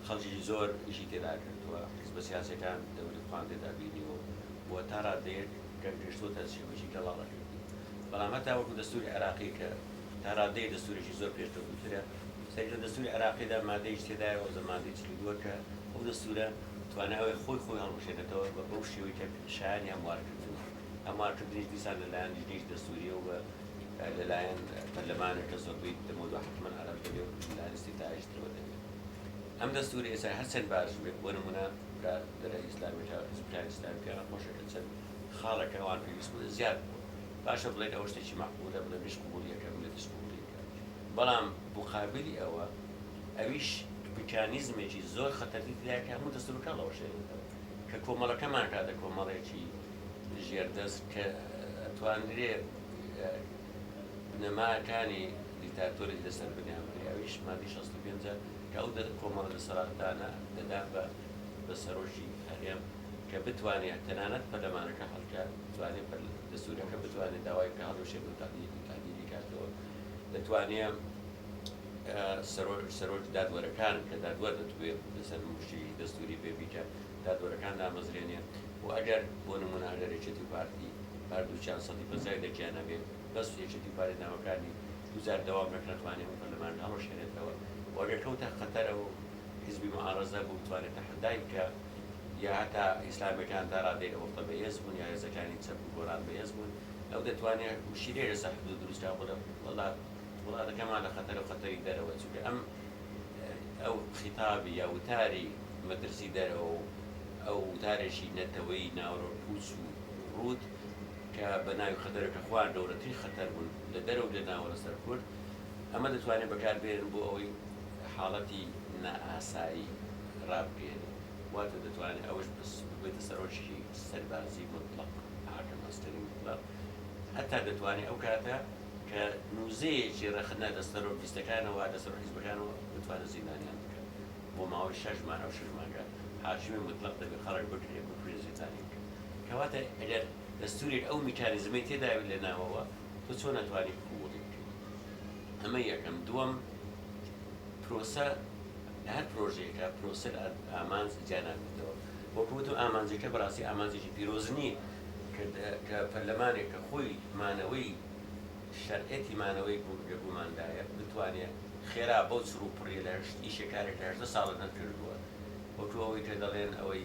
[SPEAKER 1] خەڵکێکی زۆر ئیشی تێدا کردووە، حیزبە سیاسیەکان دەوری خۆیان تێدا بینیوە و بۆ تا رادەیەک گەنگەشتووەتە شێوەیەکی گەڵاڵەکردن. بەڵام هەتا وەکو دەستوری عێراقی کە تا رادەیەک دەستورێکی زۆر پێشکەوتووترە، سەیری لە دەستوری عێراقیدا مادەیەکی تێدایە وەزە مادەی چل و دوو کە ئەو دەستورە توانای ئەوەی خۆی خۆی هەڵبوشێنێتەوە بە بەو شێوەی کە شایانی هەموارکردنە، هەموارکردنیش دیسان لە لایەن لیژنەیەکی دەستوریە و لە لایەن پەرلەمانێک کە زۆربەی دەمەو دوا حەتمەن عەرەب دەبێ و لە لایەن ئیستیفتایەکی ترەوە دەبێ. ئەم دەستورە ئێستا هەرچەند باش بێت بۆ نمونە برا دەرە ئیسلامی جا حزبەکانی ئیسلامی پێیان خۆشە کە چەند خاڵێک کە ئەوان پێویست بوون زیاد بووە باشە بڵێن ئەوە شتێکی مەعقولە بڵێ منیش قبوڵی ئەکەم ملەتیش قبوڵی ئەکا بەڵام موقابلی ئەوە ئەویش میکانیزمێکی زۆر خەتەرتی تیدایە کە هەموو دەستورەکان بڵاوەشێنێتەوە کە کۆمەڵەکەمان کاتە کۆمەڵێکی ژێردەست کە ئەتوانرێ بنەماکانی دیکتاتۆرێک لەسەر بنیامنێ ئەویش مادەی شەست و پێنج کە ئەو دە کۆمەڵە دەسەڵاتدانە دەدات بە بە سەرۆکی هەرێم کە بتوانێ تەنانەت پەرلەمانەکە هەڵکە توانێ پەر دەستورەکە بتوانێ داوای بکا هەڵوەشێنێ و تەعدی تەعدیلی بکاتەوە دەتوانێ ئە سەرۆ سەرۆکی دادوەرەکان کە دادوەر دەتوێ لەسەر مشتی دەستوری بێ بیکە دادوەرەکان دامەزرێنێ و ئەگەر بۆ نمونە ئەگەر یەکێتی و پارتی هەردووکیان سەدی پەنجای دەکیان هەبێ بەس یەکێتی و پارتی دامەکانی دووجار دەوام نەکرا توانێ ئەو پەرلەمانە هەڵوەشێنێتەوە و ئەگەر کەوتە خەتەر ئەو حیزبی موعارەزە بوو بتوانێ تەحەدای بکا یا هەتا ئیسلامیەکان تا رادەی ئەو وەختە بەهێز بوون یا هێزەکانی چەپ و گۆڕان بەهێز بوون ئەو دەتوانێ مشیرێ لەسەر حدوود دروست کا بڵێ وەڵا وڵاتەکەمان لە خەتەرە و خەتەری دەرەوە چونکە ئەم ئەو خیتابی یا وتاری مەترسی دەرەوە و ئەو وتارێکی نەتەوەی ناوەرۆک پوچ و رووت کە بە ناوی خەتەرەکە خوار گەورەترین خەتەر بوون لە دەرەوە لێداوە لەسەر کورد، ئەمە دەتوانێت بەکاربهێنن بۆ ئەوەی حاڵەتی نائاسایی ڕابگەیەنن، واتە دەتوانێت ئەوەش ببێتە سەرۆکی سەربازی موتڵەق، حاکم عسکری مطلق، هەتا دەتوانێت ئەو کاتە کە نوزەیەکی ڕەخنە لە سەرۆک لیستەکانەوە لە سەرۆک حیزبەکانەوە بتوانێت زیندانیان بکات بۆ ماوەی شەش مانگ، ئەو شەش مانگە حاکمی موتڵەق دەبێت خەڵک بگرێت بکوژێت زیندانی بکات. کەواتە ئەگەر دەستورێک ئەو میکانیزمەی تێدایەو لەناوەوە تۆ چۆن ئەتوانی قبوڵی بکەی ئەمە یەکەم دووەم پرۆسە لەهەر پرۆژەیەکە پرۆسەر ئامانج جیاناکردەوە وەکو وتم ئامانجەکە بەڕاستی ئامانجێکی پیرۆز نییە کە پەرلەمانێک کە خۆی مانەوەی شەرعەتی مانەوەی لە گوماندایە بتوانێ خێرا بەو چڕ و پڕیە لە ئیشێکارێک لە هەژدە ساڵە نەتکردووە وەکو ئەوەی کە دەڵێن ئەوەی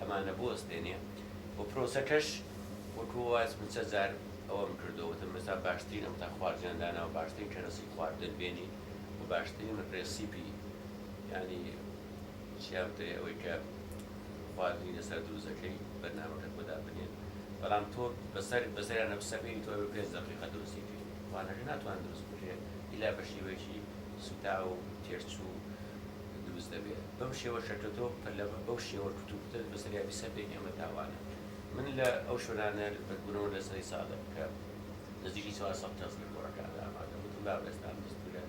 [SPEAKER 1] ئەمانە بوەستێنێ و پرۆسەکەش وەکو واز من چەند جار ئەوەم کردوە وتم مەسا باشترین ئەم تا خواردنیان داناوە باشترین کەرەسی خواردن بێنی و باشترین ڕێسیپی یانی چیا بترێ ئەوەی کە خواردنی لەسەر دروست دەکەی بەرنامەکەت بۆ دابنێن بەڵام تۆ بەسەر بەسەریانە بسە بێنی تۆ بە پێنج دەقیقە دروستی کرد وانەکە ناتوان دروست بکرێ ئیلا بە شیوەیەکی سوتاو و تێرچوو دروست دەبێ بەم شێوە شەکەتۆ پەلە بەو شێوە کتو پتەش بەسەریا بیسەپێین ئێمە تاوانە من لە ئەو شوێنانە بە گونەوە لە سەری سادق کە نزیکی چوار سەد کەس لە گۆڕەکاندا ئامادەن وتم باوێستان دەستورە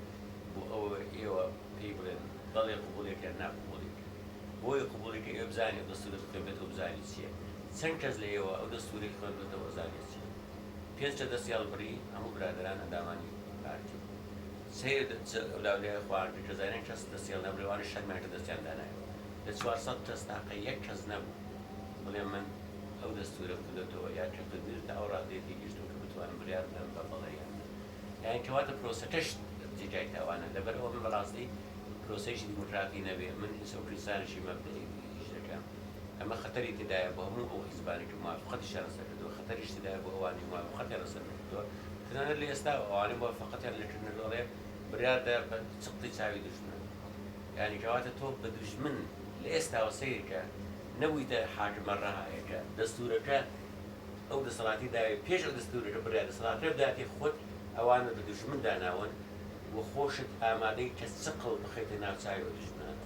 [SPEAKER 1] بۆ ئەوە ئێوە پێی بڵێن بەڵێ قبوڵێک یان نا قبوڵێک بۆی قبوڵی کە ئێوە بزانێ دەستورە بخوێنبێتەوە بزانێ چییە چەند کەس لە ئێوە ئەو دەستورەی خوێندوەتەوە ئەزانێ چییە پێنج کە دەستی هەڵبڕی هەموو برادەران ئەندامانی پارتی بوون سەیر دەچێت ئەو لاولایە خواردن کە زانیان کەس دەستیان نابوو لەوانەش شەرمیان کرد دەستیان دانایەوە لە چوار سەد کەس تاقە یەک کەس نەبوو بڵێ من ئەو دەستورەم کردۆتەوە یا کردۆتر تا ئەو ڕادەیە تێگەیشتم کە بتوانم بڕیار بدەم بە بەڵێ یان نا یانی کەواتە پرۆسەکەش جێگای تاوانە لەبەر ئەوە من بەڕاستی پرۆسەیەکی دیموکراتی نەبێ من ئینسە و کریستانێکی مەبدەئی ئیش دەکەم ئەمە خەتەری تێدایە بۆ هەموو ئەو حیزبانەی کە موافقەتیشیان لەسەر کردووە خەتەریش تێدایە بۆ ئەوانەی موافقەتیان لەسەر نەکردووە. کردووە، تەنانەت لە ئێستاوە ئەوانەی موافەقەتیان لێ کردنە دەڵێ برادە بە چقتی چاوی دوژمن، یانی کەواتە تۆ بە دوژمن لە ئێستاوە سەیرکە، نەبوویتە حاکمە رەهایەکە، دەستوورەکە ئەو دەسەڵاتی داوێ، پێش ئەو دەستوورەکە برای دەسەڵاتەکە بداتێ خۆت ئەوانت بە دوژمن داناون و خۆشت ئامادەی کە چقڵ بخەیتە ناو چاوی ئەو دوژمنانەوە.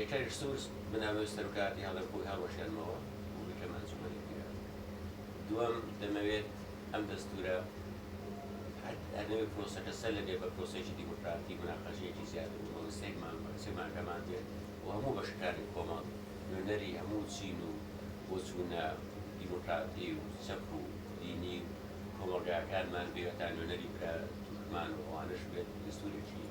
[SPEAKER 2] یەکەک
[SPEAKER 1] سوور بنەمای سەروکاتی هەڵەبوو هەڵوەشێنمەوە و بیکەم ئەنجومەنی پیران. دووەم، دەمەوێت ئەم دەستوورە، هەر ئەرنەوێت پرۆسەکە سەر لەبێ بە پرۆسەیەکی دیموکراتی، موناقەشەیەکی زیاتر و مەبەستەی مانگبەخچەی مانگەمان بێت و هەموو بەشەکانی کۆمەڵ، نوێنەری هەموو چین و بۆچوونە دیموکراتی و چەپ و دینی و کۆمەڵگایەکانمان بێت، هەتا نوێنەری برا تورکمان و ئەوانەش بێت، دەستوورێکی.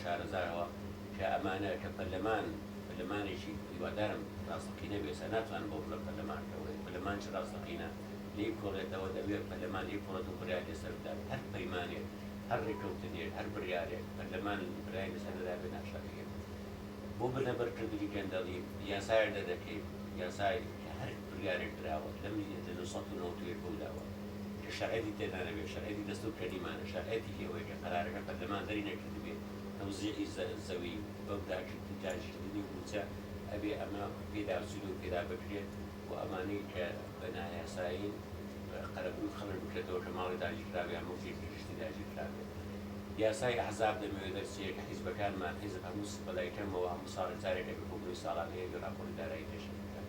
[SPEAKER 1] شارەزاوە کە ئەمانە کە پەرلەمان پەرلەمانێکی هیوادارم ڕاستەقینە بێ سا ناتوانم بەو بڵێم پەرلەمان کە وەیە پەرلەمان چ ڕاستەقینە لێی کۆڵێتەوە دەبێ پەرلەمان لێی کۆڵێت و بڕیار لێ سەر بدات هەر پەیمانێک هەر ڕێکەوتنێک هەر بڕیارێک پەرلەمان برای لە سەر نەدابێ ناشارەیە بۆ بنەبەر کردنی گەندەڵی یاسایەک دەردەکەی یاسای کە هەر بڕیارێک دراوە لەم لە نۆ سەد و نەوەد و یەک بەولاوە. کە شەرعێتی تێدا نەبێت، شەرعێتی دەستور کە نیمانە، شەرعێتیکی ئەوەیە کە قەرارەکە پەرلەمان دەری نەکردبێ، تەوزیعی زە زەوی بەو داگیرکە و داگیرکردنی و موچە ئەبێ ئەمە پێداچوونی و پێدا بکرێت و ئەمانەی کە بە نایاسایین قەرەبووی خەڵک بکرێتەوە کە ماڵی داگیرکراو یان موڵکێکی گشتی داگیرکرابێت. یاسای ئەحزاب دەمەوێ دەرچێ کە حیزبەکانمان، حیزب هەموو س بەلای کەمەوە هەموو ساڵێ جارێک ئەبێ کۆبوونەوەی ساڵانەی ئەبێ راپۆڕی دارایی پێشکەش بکات.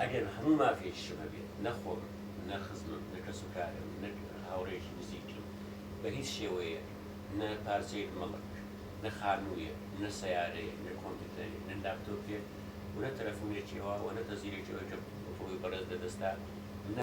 [SPEAKER 1] ئەگەر هەموو مافێکیشم هەبێت، نە خۆم، نە خزمم، نە کەسوکارم، نە هاوڕێیەکی نزیکم، بە هیچ شێوەیەک، نە پارچەیەک مەڵک، نە خانوویەک، نە سەیارەیەک، نە کۆمپیوتەرێک، نە لاپتۆپێک و نە تەلەفونێکی ئەوە و نە تەزیرێکی ئەوەی کە ئەوتۆی بەڕێز لەدەستە، نە.